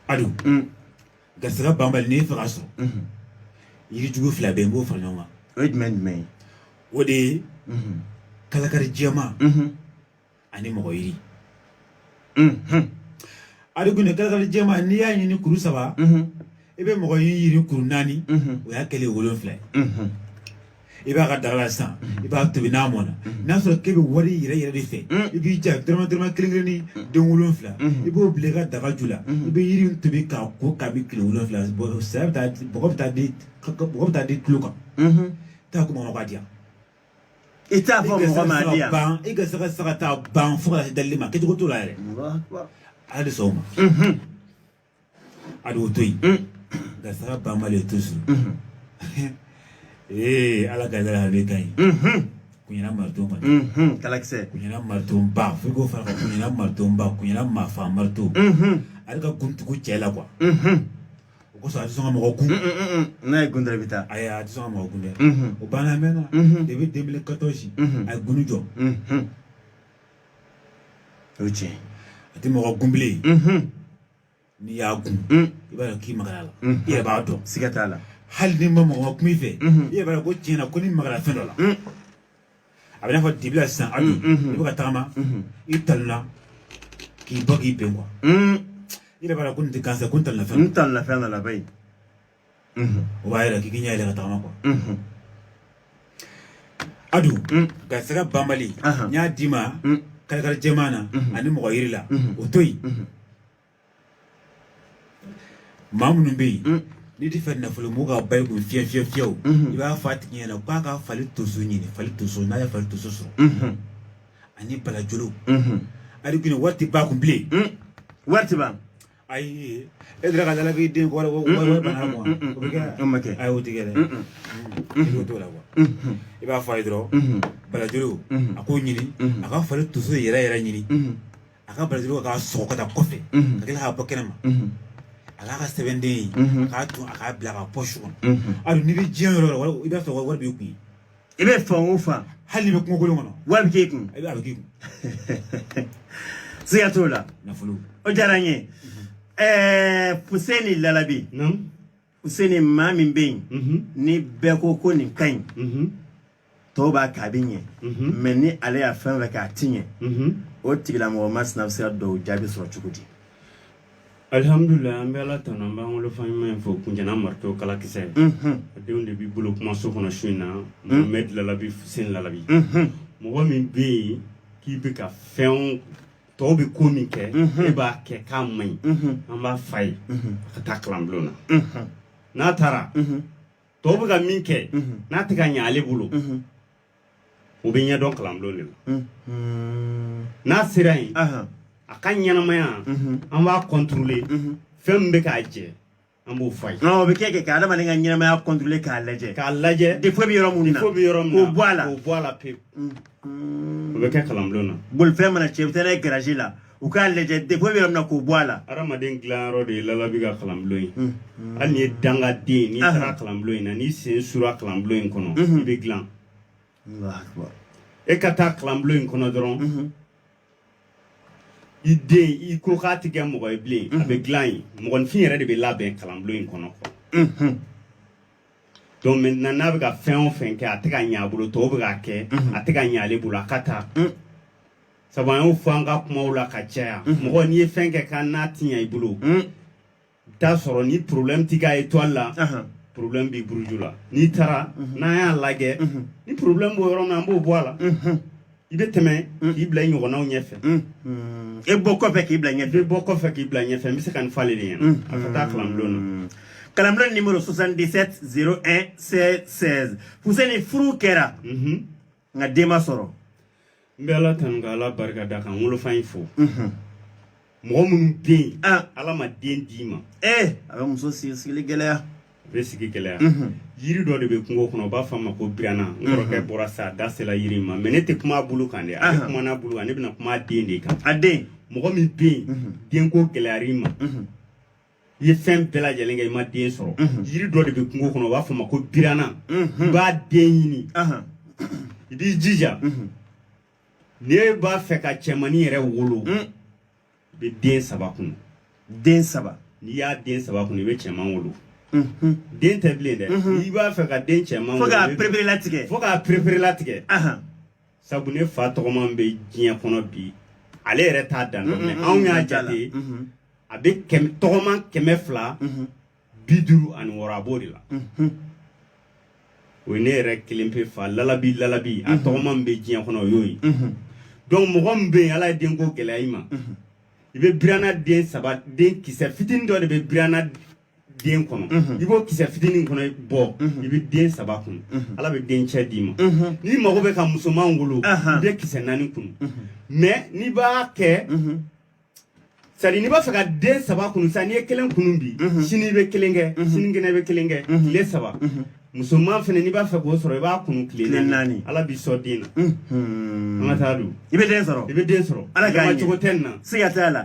Adu garisigɛ banbali n'i b'a fɛ k'a sɔrɔ yirijugu fila bɛ yen i b'o fara ɲɔgɔn kan o ye jumɛn jumɛn ye o de ye kalakari jɛma ani mɔgɔ yiri ali tun kalakari jɛma n'i y'a ɲini kuru saba i bɛ mɔgɔ yiri kuru naani o y'a kɛlen wolonfila i b'a ka daga la sisan i b'a tobi n'a mɔna n'a sɔrɔ k'e bɛ wari yɛrɛ yɛrɛ de fɛ i b'i ja dɔrɔmɛ dɔrɔmɛ kelen kelen ni den wolonfila i b'o bila i ka daga ju la i bɛ yiri tobi k'i ko k'a min kile wolonfila saya bɛ taa mɔgɔ bɛ taa di mɔgɔ bɛ taa di tulo kan taa ko mɔgɔ b'a di yan i t'a fɔ mɔgɔ ma di yan ban i ka saga saga taa ban fo ka se dalili ma kɛcogo t'o la yɛrɛ hali sɔgɔma a b'o to yen garisɛgɛ banbali to so ee ala ka yɛrɛ ale ka ɲi kunyana marito ma kalakisɛ kunyana marito ba fo ko fara kunyana marito ba kunyana mafa marito ale ka kuntugu cɛ la kuwa o kosɔn a tɛ sɔn ka mɔgɔ gun n'a y'i gun dɔrɔn i bɛ taa ayi a tɛ sɔn ka mɔgɔ gun dɛ o banna a mɛnna depuis 2014 a ye guni jɔ o ye tiɲɛ a tɛ mɔgɔ gun bilen n'i y'a gun i b'a dɔn k'i magara la i yɛrɛ b'a dɔn siga t'a la hali ni mɔgɔ ma kuma i fɛ i yɛrɛ b'a dɔn ko tiɲɛ na ko ni magara fɛn dɔ la a bɛ i n'a fɔ dibi la sisan abi i bɛ ka tagama i talonna k'i bɔ k'i bin kuwa i yɛrɛ b'a dɔn ko nin tɛ gansan ko n talonna fɛn n talonna fɛn dɔ la bayi mhm. o b'a yira k'i k'i ɲɛ yɛlɛ ka tagama kuwa mhm. adu mm. garisɛgɛ banbali n y'a d'i ma mm. karikari jɛman na mhm. ani mɔgɔ yiri la o to yen maa minnu bɛ yen mm. n'i t'a fɛ nafolo mugu ka ban i kun fiyɛ fiyɛ fiyɛw i b'a fɔ a tigi ɲɛna k'a ka fali tonso ɲini fali tonso n'a ye fali tonso sɔrɔ ani balajolo adu guni wari tɛ ban a kun bilen wari tɛ ban ayi e dira ka dala k'i den kɔrɔ ko bana kuwa o bɛ kɛ o ma kɛ a y'o tigɛ dɛ i b'o t'o la kuwa i b'a fɔ a ye dɔrɔn balajolo a k'o ɲini a ka fali tonso yɛrɛ yɛrɛ ɲini a ka balajolo k'a sɔgɔ ka taa kɔfɛ ka tila k'a bɔ kɛnɛ ma a k'a kɛ sɛbɛnden ye a k'a to a k'a bila a ka pɔsi kɔnɔ adu n'i bɛ diɲɛ yɔrɔ o yɔrɔ i b'a sɔrɔ wari b'i kun i bɛ fan o fan hali i bɛ kungokolon kɔnɔ wari bɛ k'e kun i bɛ a bɛ k'e kun siga t'o la nafolo o diyara n ye ɛɛ Fuseni Lalabi Fuseni maa min bɛ yen ni bɛɛ ko ko nin ka ɲi tɔw b'a kɛ a bɛ ɲɛ mɛ ni ale ye fɛn o fɛn kɛ a ti ɲɛ o tigilamɔgɔ masina bɛ se ka dɔw jaabi sɔrɔ cogo di alihamudulilayi an bɛ ala tanu an b'an wolofa ɲuman in fo kuncɛna marito kalakisɛ a denw de b'i bolo kumaso kɔnɔ su in na mamɛdi lalabi seni lalabi mɔgɔ min bɛ yen k'i bɛ ka fɛn tɔw bɛ ko min kɛ e b'a kɛ k'a man ɲi an b'a fɔ a ye a ka taa kalanbulon na n'a taara tɔw bɛ ka min kɛ n'a tɛ ka ɲɛ ale bolo o bɛ ɲɛdɔn kalanbulon de la mm-hmm. n'a sera yen a ka ɲɛnamaya mm-hmm. an b'a kɔntɔrɔle mm-hmm. fɛn min bɛ k'a jɛ an b'o fɔ a ye o bɛ kɛ kɛ ka adamaden ka ɲɛnamaya kɔntɔrɔle k'a lajɛ k'a lajɛ defo bɛ yɔrɔ minnu na defo bɛ yɔrɔ min na k'o bɔ a la k'o bɔ a la pewu o bɛ kɛ kalanbulon na bolifɛn mana cɛn i bɛ taa n'a ye garazi la u k'a lajɛ défaut bɛ yɔrɔ min na k'o bɔ a la hadamaden dilanyɔrɔ de ye lalabi ka kalanbulon ye hali n'i ye dangaden n'i Ahan. taara kalanbulon in na n'i sen sura kalanbulon in kɔnɔ Mhm. i bɛ dilan Allahu akbar. e ka taa kalanbulon in kɔnɔ dɔrɔn Mhm. i den i ko k'a tɛ kɛ mɔgɔ ye bilen a bɛ dilan yen mɔgɔninfin yɛrɛ de bɛ labɛn kalanbulon in kɔnɔ quoi. Mhm. donc maintenant n'a bɛ ka fɛn o fɛn kɛ a tɛ ka ɲɛ a bolo tɔw bɛ k'a kɛ a tɛ ka ɲɛ ale bolo a ka taa Mhm. sabu an y'o fɔ an ka kumaw la ka caya mɔgɔ n'i ye fɛn kɛ ka na tiɲɛ i bolo i t'a sɔrɔ ni problème t'i ka étoile la problème b'i buruju la n'i taara n'an y'a lajɛ ni problème b'o yɔrɔ min na an b'o bɔ a la i bɛ tɛmɛ k'i bila i ɲɔgɔnnaw ɲɛfɛ e bɔ kɔfɛ k'i bila ɲɛfɛ i bɔ kɔfɛ k'i bila ɲɛfɛ n bɛ se ka nin fɔ ale de ɲɛna a ka taa kalanbulon na kalanbulon numéro 77 01 16 16 Fuseni furu kɛra nka den ma sɔrɔ n bɛ ala tanu ka ala barika da ka n wolofa in fo mɔgɔ minnu bɛ yen ala ma den d'i ma ee a bɛ muso sigi sigili gɛlɛya a bɛ sigi gɛlɛya yiri dɔ de bɛ kungo kɔnɔ u b'a fɔ a ma ko birana n kɔrɔkɛ bɔra sa a da sela yiri in ma mɛ ne tɛ kuma a bulu kan dɛ a bɛ kuma n'a bulu kan ne bɛna kuma a den de kan a den mɔgɔ min bɛ yen denko gɛlɛyara i ma i ye fɛn bɛɛ lajɛlen kɛ i ma den sɔrɔ yiri dɔ de bɛ kungo kɔnɔ u b'a fɔ a ma ko birana i b'a den ɲini i b'i jija n'e b'a fɛ ka cɛmannin yɛrɛ wolo i bɛ den saba kunu den saba n'i y'a den saba kunu i bɛ cɛman wolo den tɛ bilen dɛ n'i b'a fɛ ka den cɛman wolo fo k'a pereperelatigɛ fo k'a pereperelatigɛ sabu ne fa tɔgɔman bɛ diɲɛ kɔnɔ bi ale yɛrɛ t'a dan dɔn mɛ anw y'a jate a bɛ tɔgɔman kɛmɛ fila bi duuru ani wɔɔrɔ a b'o de la o ye ne yɛrɛ kelen pe fa lalabi lalabi a tɔgɔman bɛ diɲɛ kɔnɔ o y'o ye donc mɔgɔ min bɛ yen ala ye denko gɛlɛya i ma i bɛ birana den saba den kisɛ fitinin dɔ de bɛ birana den kɔnɔ i b'o kisɛ fitinin kɔnɔ bɔ i bɛ den saba kunu ala bɛ den cɛ d'i ma n'i mago bɛ ka musoman wolo i bɛ kisɛ naani kunu mɛ n'i b'a kɛ sari n'i b'a fɛ ka den saba kunu sa n'i ye kelen kunu bi sini i bɛ kelen kɛ sinikɛnɛ i bɛ kelen kɛ tile saba musoman fana n'i b'a fɛ k'o sɔrɔ i b'a kunu tile naani ala b'i sɔn den na an ka taa don i bɛ den sɔrɔ i bɛ den sɔrɔ ala ka cogo tɛ nin na siga t'a la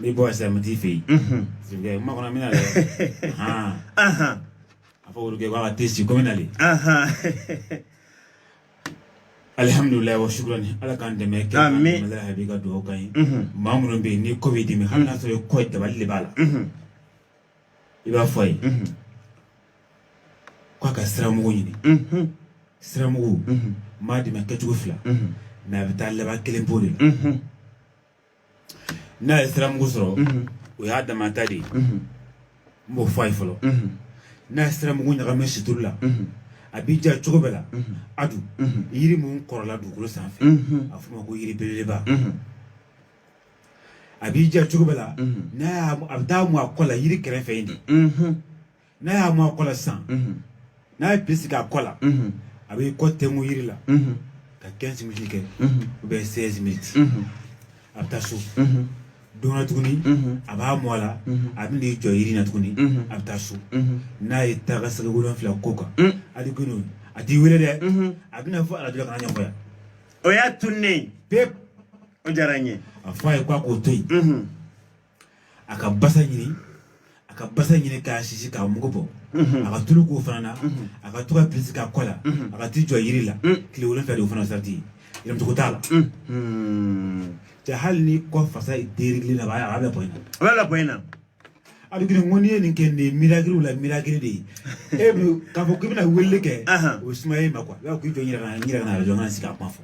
Ni bɔ sɛ n t'i fɛ yen ma kɔnɔ bɛna hɔn a fɔ olu b'a tɛ si ko nali alihamdulila wa su ni ala k'an dɛmɛ ka dugawu ka ye maa minnu bɛ yen n'i kɔ bɛ dimi hali n'a sɔrɔ ye kɔ dabali de b'a la i b'a fɔ a ye k'a ka siramugu ɲini siramugu maa dɛmɛ kɛcogo fila mɛ a bɛ taa laban kelen bɔ de la n'a ye siramugu sɔrɔ o y'a damata de ye n b'o fɔ a ye fɔlɔ n'a ye siramugu ɲagami situlu la a b'i ja cogo bɛɛ la a dun yiri minnu kɔrɔla dugukolo sanfɛ a f'o ma ko yiri belebeleba a b'i ja cogo bɛɛ la n'a a bɛ taa mu a kɔ la yiri kɛrɛfɛ in de n'a y'a mu a kɔ la sisan n'a ye bi sigi a kɔ la a bɛ kɔ tɛnku yiri la ka 15 minutes kɛ ou bien 16 minutes a bɛ taa so don na tuguni a b'a mu a la a bɛ n'i jɔ yiri na tuguni a bɛ taa so n'a ye taa ka segin wolonfila k'o kan hali kunu a t'i wele dɛ a bɛna fɔ arajo la ka n'a ɲɛfɔ yan o y'a tunnen pewu o diyara n ye a fɔ a ye k'a k'o to yen a ka basa ɲini a ka basa ɲini k'a sisi k'a mugu bɔ mhm. a ka tulu k'o fana na mhm. a ka to ka pilisi k'a kɔ la mhm. a ka t'i jɔ yiri la tile wolonfila de o fana sarati ye yɛlɛmatogo t'a la cɛ hali ni kɔ fasa derili la a b'a bɛ bɔ in na a b'a bɛ bɔ in na a bɛ girin ko n'i ye nin kɛ nin ye mirakiriw la mirakiri de ye e bɛ k'a fɔ k'i bɛna weleli kɛ o ye sumaya in ma kuwa i b'a fɔ k'i jɔ n yɛrɛ ka na n yɛrɛ ka na arajo n ka na sigi a kuma fɔ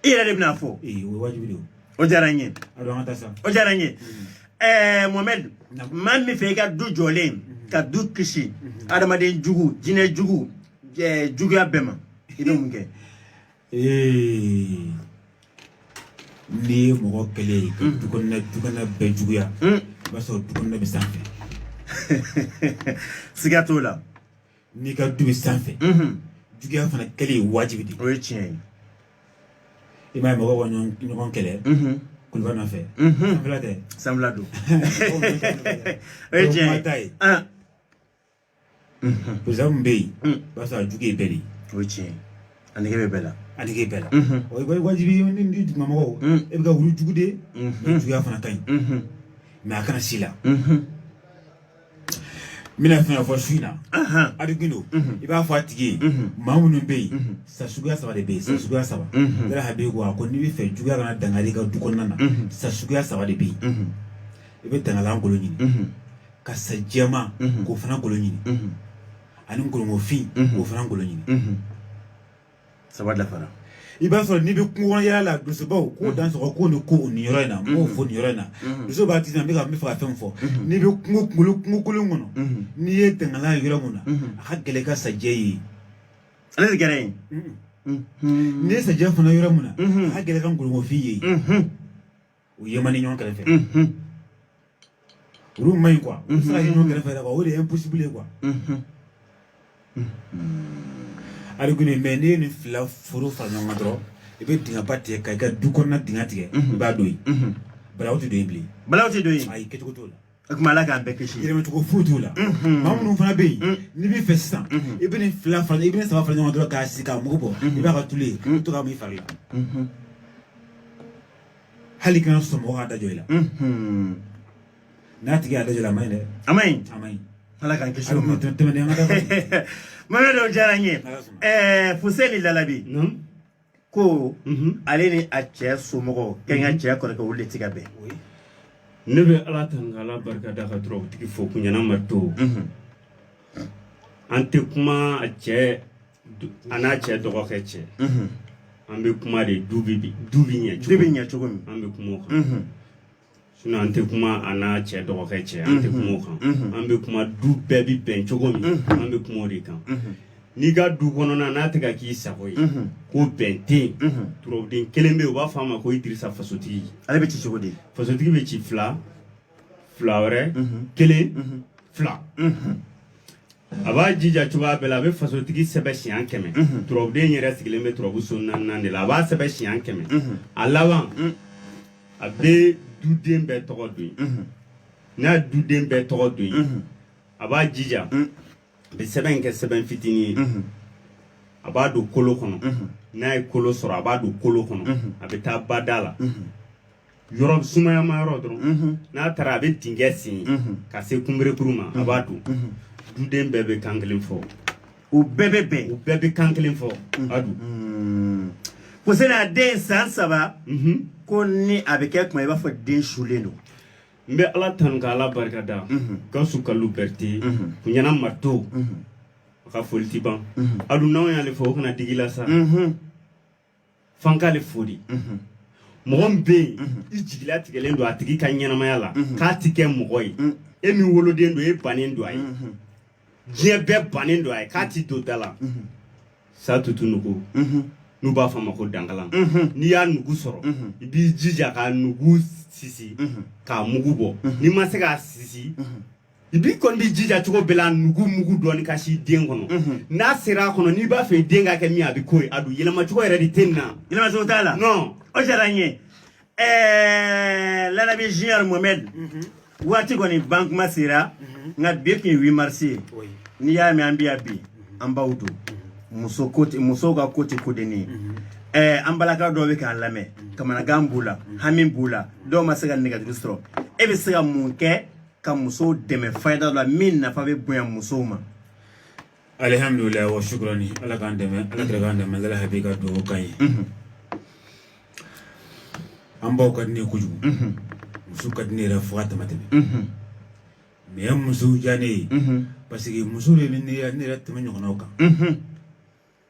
i yɛrɛ de bɛn'a fɔ o ye wajibi de ye o diyara n ye o diyara n ye ɛɛ mohamɛdi maa min fɛ i ka du jɔlen ka du kisi adamaden jugu jinɛ jugu juguya bɛɛ ma i bɛ mun kɛ n'i ye mɔgɔ kɛlɛ ye ka du kɔnɔna du kɔnɔna bɛɛ juguya i b'a sɔrɔ du kɔnɔna bɛ sanfɛ siga t'o la n'i ka du bɛ sanfɛ juguya fana kɛlen ye wajibi de o ye tiɲɛ ye i m'a ye mɔgɔw ka ɲɔgɔn kɛlɛ kuluba nɔfɛ sanfɛla tɛ sanfɛla don o ye tiɲɛ ye ta ye perezidan min bɛ yen o b'a sɔrɔ a jugu ye bɛɛ de ye o ye tiɲɛ ye a nege bɛ bɛɛ la a nege bɛɛ la o ye wajibi ye ni ni dugumamɔgɔw e bɛ ka wuli jugu de juguya fana ka ɲi mɛ a kana se i la bɛna fɛn fɔ su in na a dogolen don i b'a fɔ a tigi ye maa minnu bɛ yen sa suguya saba de bɛ yen sa suguya saba yɛrɛ ha bɛ ko a ko n'i bɛ fɛ juguya kana dankari i ka du kɔnɔna na sa suguya saba de bɛ yen i bɛ dangalan kolo ɲini ka sa jɛma k'o fana kolo ɲini ani ngɔrɔngɔfin k'o fana kolo ɲini saba dafara i b'a sɔrɔ n'i bɛ kungo kɔnɔ yaala la donsobaw ko mm-hmm. dansɔgɔ ko ni ko nin yɔrɔ in na m'o mm-hmm. fɔ nin yɔrɔ in na mm-hmm. dusu b'a ti na n bɛ ka n bɛ fɛ ka fɛn fɔ n'i bɛ kungo kunkolo kungo kolon kɔnɔ n'i ye dangalan ye yɔrɔ mun na a ka gɛlɛn ka sajɛ ye ale de gɛrɛ ye n'i ye sajɛ fana yɔrɔ mun na a ka gɛlɛn ka ngɔrɔngɔfin ye u ye man ɲi ɲɔgɔn kɛrɛfɛ olu man ɲi quoi u sera ye ɲɔgɔn kɛrɛfɛ quoi o de ye impossible ye quoi ari kɔni mais n'i ye nin fila foro fara ɲɔgɔn kan dɔrɔn i bɛ dingɛba tigɛ ka i ka du kɔnɔna dingɛ tigɛ i b'a don yen balawu tɛ don yen bilen balawu tɛ don yen ayi kɛcogo t'o la o tuma ala k'an bɛɛ kisi yɛlɛmacogo foyi t'o la maa minnu fana bɛ yen n'i b'a fɛ sisan i bɛ nin fila fara i bɛ nin saba fara ɲɔgɔn dɔrɔn k'a sisi k'a mugu bɔ i b'a kɛ tulu ye i bɛ to k'a mu i fari la hali kana sɔn mɔgɔ k'a dajɔ i la n'a tigi y'a dajɔ i la a ma ɲi dɛ a ma ɲi a ma ɲi ala k'an kisi o ma tɛmɛnen an ka da mamɛ dɔw diyara n ye fuseni lalabi ko ale ni a cɛ somɔgɔw k'a n'a cɛ kɔrɔkɛ olu de ti ka bɛn ne bɛ ala tanu ka ala barika da ka dɔrɔn tigi fo kunyana mato an tɛ kuma a cɛ a n'a cɛ dɔgɔkɛ cɛ an bɛ kuma de du bi du bi ɲɛ du bi ɲɛ cogo min an bɛ kuma o kan sinon an tɛ kuma a n'a cɛ dɔgɔkɛ cɛ an tɛ kuma o kan an bɛ kuma du bɛɛ bɛ bɛn cogo min an bɛ kuma o de kan n'i ka du kɔnɔna n'a tɛ ka k'i sago ye ko bɛn tɛ yen turabuden kelen bɛ yen u b'a fɔ a ma ko idirisa fasotigi ale bɛ ci cogo di fasotigi bɛ ci fila fila wɛrɛ kelen fila a b'a jija cogoya bɛɛ la a bɛ fasotigi sɛbɛn siɲɛ kɛmɛ turabuden yɛrɛ sigilen bɛ turabu so naaninan de la a b'a sɛbɛn siɲɛ kɛmɛ a laban a bɛ duden bɛɛ tɔgɔ don yen n'a duden bɛɛ tɔgɔ don yen a b'a jija a bɛ sɛbɛn in kɛ sɛbɛn fitinin ye a b'a don kolo kɔnɔ n'a ye kolo sɔrɔ a b'a don kolo kɔnɔ a bɛ taa bada la yɔrɔ sumayama yɔrɔ dɔrɔn mhm. n'a taara a bɛ dingɛ sen mhm. ka se kunberekuru ma a b'a don mhm. duden bɛɛ bɛ kan kelen fɔ u bɛɛ bɛ bɛn u bɛɛ bɛ kan kelen fɔ a don mm. kosɛbɛ a den san saba ko ni a bɛ kɛ kuma i b'a fɔ den sulen don n bɛ ala tanu ka ala barika da gawusu kalu bɛrite kunyana mato a ka foli ti ban a dun n'anw y'ale fo o kana digi i la sa f'an k'ale fo dɛ mɔgɔ min bɛ yen i jigila tigɛlen don a tigi ka ɲɛnamaya la k'a tɛ kɛ mɔgɔ ye e min woloden don e bannen don a ye diɲɛ bɛɛ bannen don a ye k'a tɛ don da la sa tutu nugu n'u b'a fɔ a ma ko dankalan n'i y'a nugu sɔrɔ i b'i jija k'a nugu sisi k'a mugu bɔ n'i ma se k'a sisi bi kɔni b'i jija cogo bɛɛ la nugu mugu dɔɔni ka se den kɔnɔ mhm. n'a sera a kɔnɔ n'i b'a fɛ den ka kɛ min a bɛ k'o ye a dun yɛlɛma cogo yɛrɛ de tɛ nin na yɛlɛma cogo t'a la non o diyara n ye eh, lanabi junior mohamɛd mhm. waati kɔni ban tuma sera mhm. nka bi tun ye 8 mars ye n'i y'a mɛn an bɛ yan bi an b'a dɔn muso ko tɛ musow ka ko tɛ ko dennin ye eh, an balaka dɔw bɛ k'an lamɛn kamanagan b'u la hami b'u la dɔw ma se ka nɛgɛjuru sɔrɔ e bɛ se ka mun kɛ ka musow dɛmɛ fayida la min nafa bɛ bonya musow ma alihamdulilayi wa shukurani ala k'an dɛmɛ ala kira k'an dɛmɛ ala hakili ka dugawu k'an ye an baw ka di ne ye kojugu muso ka di ne yɛrɛ fo ka damatɛmɛ mun ye musow diya ne ye parce que muso de bɛ ne yɛrɛ tɛmɛ ɲɔgɔnnaw kan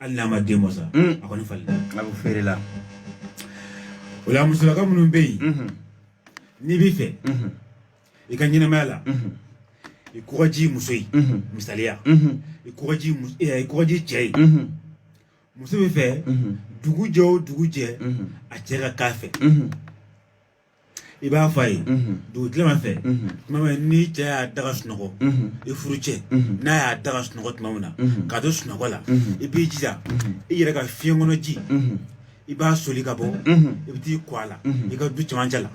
hali n'a ma den bɔ sa a kɔni falen bɛ feere la o la musolaka minnu bɛ yen n'i b'a fɛ i ka ɲɛnamaya la i ko ka diya muso ye misali la i ko ka diya i ko ka diya cɛ ye muso b'a fɛ dugu jɛ o dugu jɛ a cɛ ka k'a fɛ i b'a fɔ a ye dugutilama fɛ tuma min n'i cɛ y'a da ka sunɔgɔ i furu cɛ n'a y'a da ka sunɔgɔ tuma min na k'a to sunɔgɔ la i b'i jija i yɛrɛ ka fiɲɛ kɔnɔ ji i b'a soli ka bɔ i bɛ t'i ko a la i ka du cɛmancɛ la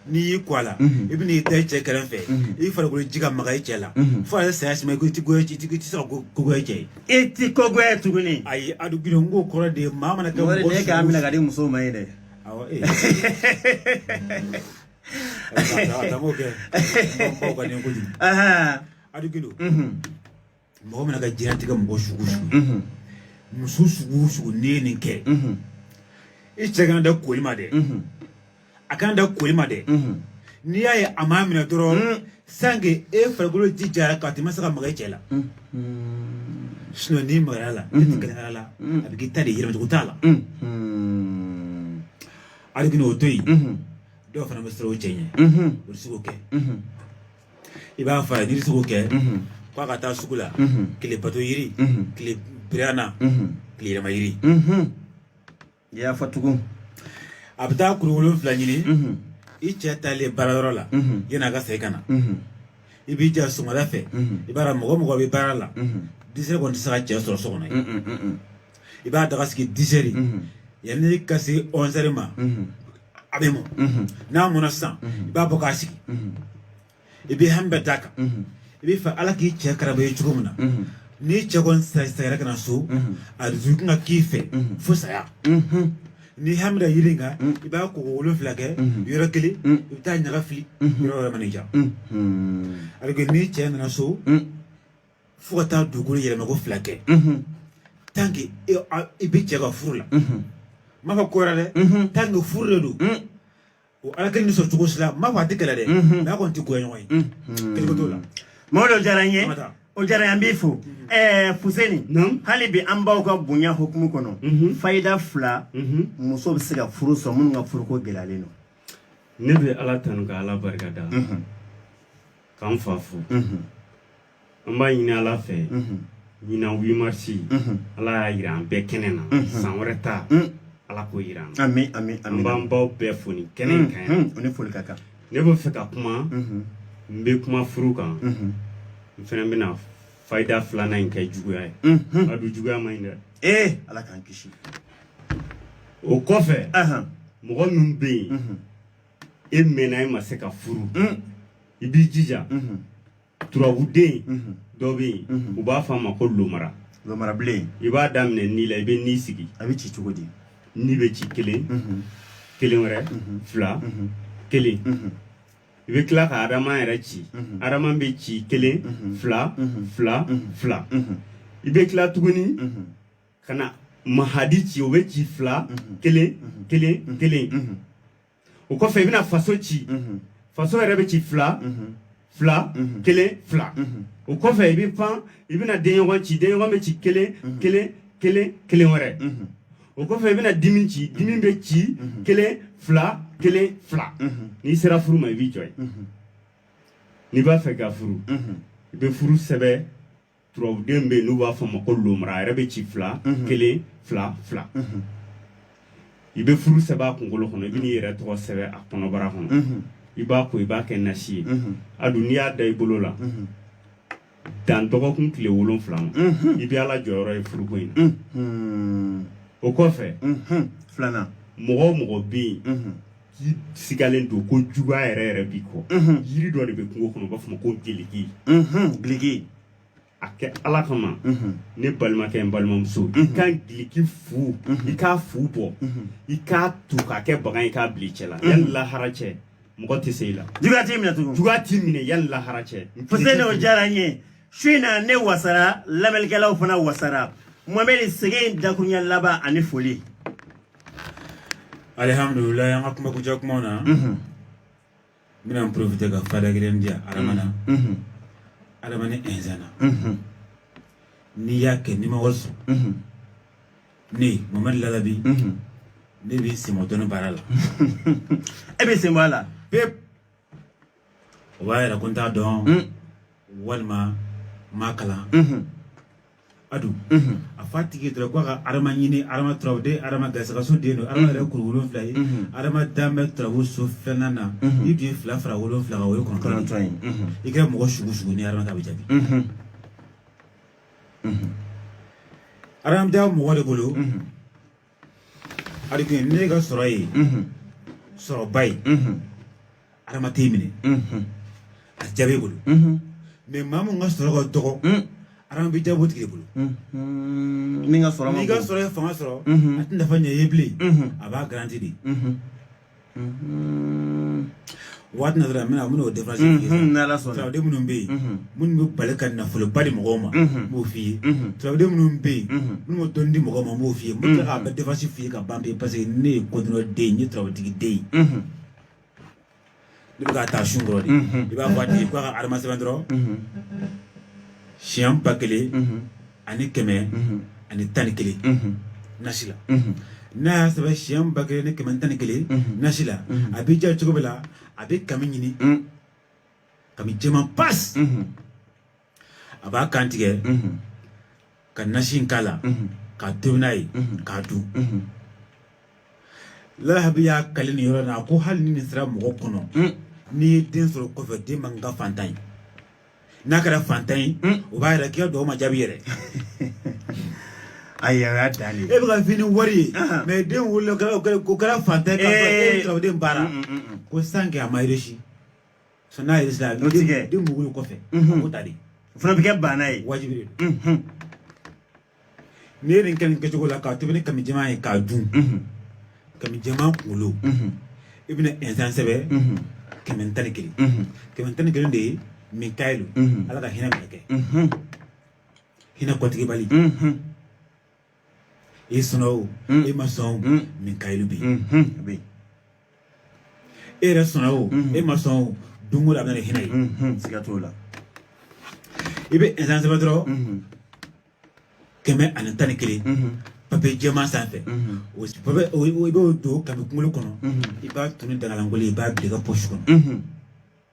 n'i y'i ko a la i bɛ n'i da i cɛ kɛrɛfɛ i farikolo ji ka maga i cɛ la fo a ye saya sima i ko i ti goya i ti se ka kogoya cɛ ye e ti kogoya tuguni ayi a dun girin ko kɔrɔ de ye maa mana kɛ mɔgɔ sugu o de ye k'a minɛ ka di musow ma ye dɛ Awa eh. Adamo kɛ baw ka nin kojugu. Adu Gindo. Mɔgɔ mana ka diɲɛlatigɛ mɔgɔ sugu o sugu. Muso sugu o sugu n'i ye nin kɛ. I cɛ kana da koli ma dɛ. A kana da koli ma dɛ. N'i y'a ye a m'a minɛ dɔrɔn. sanko e farikolo ji jara k'a t'i ma se ka maga i cɛ la sinɔn n'i magara a la ne tigɛlen b'a la a bɛ k'i ta de ye yɛlɛmacogo t'a la hali kini o to yen dɔw fana bɛ siran u cɛ ɲɛ u tɛ se k'o kɛ i b'a fɔ a ye n'i tɛ se k'o kɛ k'a ka taa sugu la tile bato yiri tile birana tile yɛlɛma yiri i y'a fɔ tugun a bɛ taa kuru wolonwula ɲini i cɛ taalen baara yɔrɔ la yann'a ka segin ka na i b'i jija sɔgɔmada fɛ i b'a dɔn mɔgɔ o mɔgɔ bɛ baara la disɛri kɔni tɛ se ka cɛ sɔrɔ so kɔnɔ yen i b'a daga sigi disɛri yanni ka se ɔnsɛri ma a bɛ mɔ n'a mɔna sisan i b'a bɔ k'a sigi i bɛ hami bɛɛ d'a kan i b'a fɛ ala k'i cɛ karaba ye cogo min na n'i cɛ kɔsayira ka na so a dusukun ka k'i fɛ fo saya ni hami da yiri kan i b'a ko wolonwula kɛ yɔrɔ kelen i bɛ taa ɲaga fili yɔrɔ wɛrɛ man'i ja a bɛ n'i cɛ nana so fo ka taa dugukolo yɛlɛma ko fila kɛ tanke i b'i cɛ ka furu la n m'a fɔ ko wɛrɛ dɛ tanke furu de don o ala kelen ni sɔrɔ cogo si la n m'a fɔ a tɛ kɛlɛ dɛ mɛ a kɔni tɛ goya ɲɔgɔn ye kɛlɛko t'o la mɔgɔ dɔ diyara n ye o diyara an b'i fo ɛɛ fuseni hali bi an baw ka bonya hukumu kɔnɔ fayida fila muso bɛ se ka furu sɔrɔ minnu ka furuko gɛlɛyalen don ne bɛ ala tanu ka ala barika da k'an fa fo an b'a ɲini ala fɛ ɲina wimarisi ala y'a yira an bɛɛ kɛnɛ na san wɛrɛ ta ala k'o yira an na ami ami an b'an baw bɛɛ fo nin kɛnɛ in kan yan u ni foli ka kan ne b'a fɛ ka kuma n bɛ kuma furu kan n fana bɛna fayida filanan in kɛ juguya ye a dun juguya man ɲi dɛ ee ala k'an kisi o kɔfɛ mɔgɔ min bɛ yen e mɛnna i ma se ka furu i b'i jija turabuden dɔ bɛ yen u b'a fɔ a ma ko lomara lomarabilen i b'a daminɛ ni la i bɛ ni sigi a bɛ ci cogo di ni bɛ ci kelen kelen wɛrɛ fila kelen i bɛ tila ka adama yɛrɛ ci adama bɛ ci kelen fila fila fila i bɛ tila tuguni ka na mahadi ci o bɛ ci fila kelen kelen kelen o kɔfɛ i bɛna faso ci faso yɛrɛ bɛ ci fila fila kelen fila o kɔfɛ i bɛ pan i bɛna denɲɔgɔn ci denɲɔgɔn bɛ ci kelen kelen kelen kelen wɛrɛ o kɔfɛ i bɛna dimi ci dimi bɛ ci kelen fila kelen fila n'i sera furu ma i b'i jɔ yen n'i b'a fɛ ka furu i bɛ furu sɛbɛn turabuden bɛ yen n'u b'a fɔ a ma ko lomara a yɛrɛ bɛ ci fila kelen fila fila i bɛ furu sɛbɛn a kunkolo kɔnɔ i bɛ n'i yɛrɛ tɔgɔ sɛbɛn a kɔnɔbara kɔnɔ i b'a ko i b'a kɛ nasi ye a dun n'i y'a da i bolo la dan dɔgɔkun tile wolonfila ma i bɛ ala jɔyɔrɔ ye furuko in na o kɔfɛ filanan mɔgɔ o mɔgɔ bɛ yen k'i sigalen don ko juguya yɛrɛ yɛrɛ b'i kɔ yiri dɔ de bɛ kungo kɔnɔ u b'a fɔ a ma ko giliki giliki a kɛ ala kama ne balimakɛ n balimamuso i ka giliki fu i k'a fu bɔ i k'a tu k'a kɛ bagan i k'a bil'i cɛ la yanni lahara cɛ mɔgɔ tɛ se i la juguya t'i minɛ tugun juguya t'i minɛ yanni lahara cɛ fose ne o diyara n ye su in na ne wasara lamɛnnikɛlaw fana wasara mamɛdi sɛgɛn i dakurunya laban ani foli alihamdulila an ka kuma kuncɛ kumaw na n bɛna n porofite ka fayida kelen di yan adama na adama ni ɛnsan na n'i y'a kɛ n'i ma wari sɔrɔ ne mohamɛdi lalabi ne bɛ n sen bɔ dɔnni baara la ne bɛ n sen bɔ a la pewu O b'a yira ko n t'a dɔn walima n ma kalan a dun a f'a tigi dɔrɔn k'a ka adama ɲini turabu la adama garisɛgɛso den don adama yɛrɛ kuru wolonwula ye adama bɛ turabu so filanan na n'i tun ye fila fara wolonwula o ye kɔnɔntɔn ye n'i kɛra mɔgɔ sugu sugu nin bɛ jaabi a mɔgɔ de bolo a dɔn ko n'e ka sɔrɔ ye sɔrɔba ye adama tɛ minɛ a jaabi bolo mɛ maa min ka sɔrɔ ka dɔgɔ adama bɛ jaabi o tigi de bolo n'i ka sɔrɔ n'i ka sɔrɔ ye fanga sɔrɔ a tɛ nafa ɲɛ i ye bilen a b'a garanti de waati na dɔrɔn n bɛna n bɛn'o diferansi n'ala sɔnna turaden minnu bɛ yen minnu bɛ bala ka nafoloba di mɔgɔw ma n b'o f'i ye turaden minnu bɛ yen minnu bɛ dɔnni di mɔgɔw ma n b'o f'i ye n bɛ tila k'a bɛɛ diferansi f'i ye ka ban pewu paseke ne ye kɔdɔrɔ den ye n ye turabutigi den ye I bɛ ka taa su dɔrɔn de i b'a fɔ k'a ka adama sɛbɛn dɔrɔn siɲɛ ba kelen ani kɛmɛ ani tan ni kelen nasi la n'a y'a sɛbɛn siɲɛ ba kelen ni kɛmɛ tan ni kelen nasi la a b'i jija cogo bɛɛ la a bɛ kami ɲini kami jɛman pasi a b'a kan tigɛ ka nasi k'a la k'a tobi n'a ye k'a dun lalabi y'a kali nin yɔrɔ in na a ko hali ni nin sera mɔgɔ kɔnɔ n'i ye den sɔrɔ kɔfɛ den man ka faantan ye n'a kɛra faantan ye o b'a yira k'i ka duga ma jaabi yɛrɛ ayi a y'a dan de e bɛ ka fini wari ye mɛ den wolola o kɛra faantan ye k'a fɔ e ye turaden baara ko san kɛ a ma reyisi Son n'a yɛrɛ sera n'o tigi ye den min wolo kɔfɛ o ta den o fana bɛ kɛ baana ye wajibi de don n'i ye nin kɛ nin kɛcogo la k'a tobi ni kami jɛman ye k'a dun kami jɛman kunkolo i bɛna ɛnsan sɛbɛn kɛmɛ tan ni kelen kɛmɛ tan ni kelen de ye mikayilu ala ka hinɛ mɛlɛkɛ hinɛ kɔtigɛbali i sɔnna o i ma sɔn mikayilu bɛ yen e yɛrɛ sɔnna o e ma sɔn o don o don a bɛ na ni hinɛ ye siga t'o la i bɛ ɛnsan sɛbɛn dɔrɔn kɛmɛ ani tan ni kelen papiye jɛman sanfɛ o i b'o don kami kunkolo kɔnɔ i b'a jeni daga lankolon i b'a bila i ka posi kɔnɔ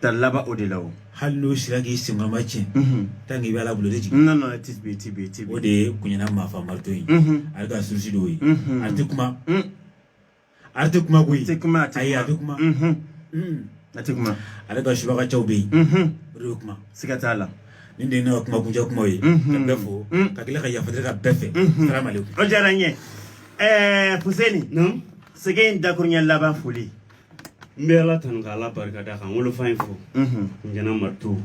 Talaba o de la o hali n'o sira k'i sen ma tiɲɛ tan k'i bɛ ala bolo de jigin na nana ti bi ti bi ti o de ye kunɲɛna maa faamato ye ale ka susi dɔw ye a tɛ kuma a tɛ kuma ko tɛ kuma a ye a bɛ kuma a tɛ kuma ale ka subagacɛw bɛ yen o de kuma siga t'a la ni de ka kuma kuncɛ kuma ye n bɛ fɔ ka tila ka yafa ka bɛɛ fɛ ma o diyara n ye ɛɛ fuseni sɛgɛn in dakurunya laban foli n bɛ ala tanu ka ala barika da ka n wolofa in fo ɲɛna ma to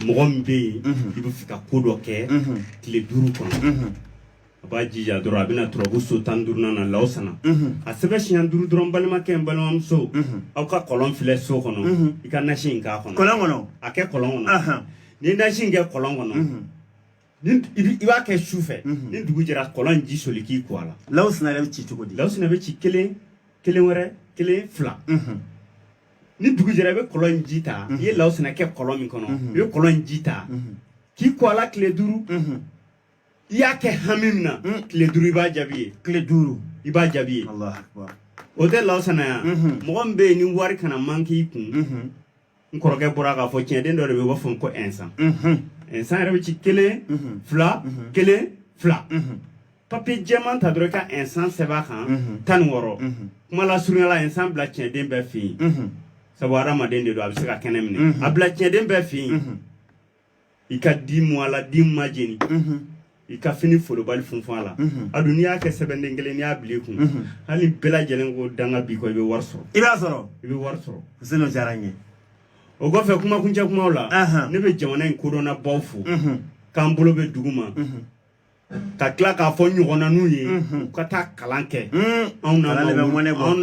mɔgɔ min bɛ yen i b'a fɛ ka ko dɔ kɛ tile duuru kɔnɔ a b'a jija dɔrɔn a bɛna turabu so tan duurunan na lawsana a sɛbɛn siɲɛ duuru dɔrɔn balimakɛ n balimamuso aw ka kɔlɔn filɛ so kɔnɔ i ka nasi in k'a kɔnɔ kɔlɔn kɔnɔ a kɛ kɔlɔn kɔnɔ n'i nasi in kɛ kɔlɔn kɔnɔ i b'a kɛ su fɛ mhm. ni dugu jɛra kɔlɔn ji soli k'i ko a la lawsina yɛrɛ bɛ ci cogo di lawsina bɛ ci kelen kelen wɛrɛ kelen fila mhm. ni dugu jɛra i bɛ kɔlɔn ji ta mhm. i ye lawsina kɛ kɔlɔn min kɔnɔ i bɛ kɔlɔn ji ta k'i ko a la tile duuru i y'a kɛ hami min na tile duuru i b'a jaabi ye tile duuru i b'a jaabi ye o tɛ lawsina yan mɔgɔ min bɛ yen ni wari kana man k'i kun n kɔrɔkɛ bɔra k'a fɔ tiɲɛden dɔ de bɛ yen u b'a fɔ ko insan insan yɛrɛ bɛ ci kelen fila kelen fila papiye jɛman ta dɔrɔn i ka insan sɛbɛn a kan tan ni wɔɔrɔ kuma lasurunya la insan bila tiɲɛden bɛɛ fɛ yen sabu hadamaden de don a bɛ se ka kɛnɛ minɛ a bila tiɲɛden bɛɛ fɛ yen i ka di mu a la di ma jeni i ka fini folobali funfun a la a dun n'i y'a kɛ sɛbɛnden kelen n'i y'a bila i kun hali bɛɛ lajɛlen ko danga b'i kɔ i bɛ wari sɔrɔ i b'a sɔrɔ i bɛ wari sɔrɔ seni o diyara n ye o kɔfɛ kumakuncɛ kumaw la ne bɛ jamana in kodɔnnabaw fo k'an bolo bɛ dugu ma ka tila k'a fɔ ɲɔgɔnna n'u ye u ka taa kalan kɛ anw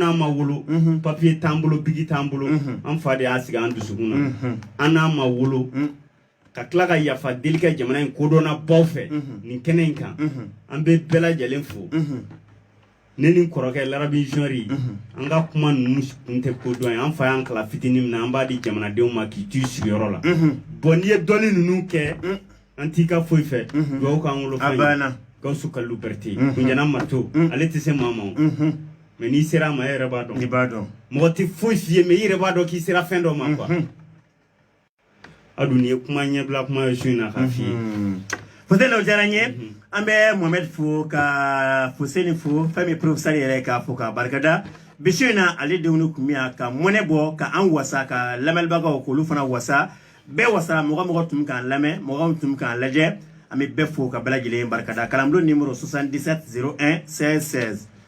n'a ma wolo papiye t'an bolo bigi t'an bolo an fa de y'a sigi an dusukun na an n'a ma wolo ka tila ka yafa deli kɛ jamana in kodɔnnabaw fɛ nin kɛnɛ in kan an bɛ bɛɛ lajɛlen fo ne ni kɔrɔkɛ larabi jɔri an ka kuma ninnu kun tɛ ko dɔn ye an fa y'an kalan fitinin min na an b'a di jamanadenw ma k'i t'i sigiyɔrɔ la bɔn n'i ye dɔnni ninnu kɛ an t'i ka foyi fɛ dugawu k'an wolofa gawusu kalilu berete kunjana mato ale tɛ se maa ma mɛ n'i sera a ma e yɛrɛ b'a dɔn i b'a dɔn mɔgɔ tɛ foyi f'i ye mɛ i yɛrɛ b'a dɔn k'i sera fɛn dɔ ma kuwa a dun ye kuma ɲɛbila kuma ye su in na k'a f'i ye fose la o diyara n ye an bɛ mohamɛd fo ka foseni fo fɛn min ye porofesɛri yɛrɛ k'a fo k'a barika da bi su in na ale denw ni kun min ka mɔnɛ bɔ ka an wasa ka lamɛnbagaw k'olu fana wasa bɛɛ wasara mɔgɔ mɔgɔ tun k'an lamɛn mɔgɔ tun k'an lajɛ an bɛ bɛɛ fo ka bɛɛ lajɛlen barika da kalanbulon nimoro 77 01 16 16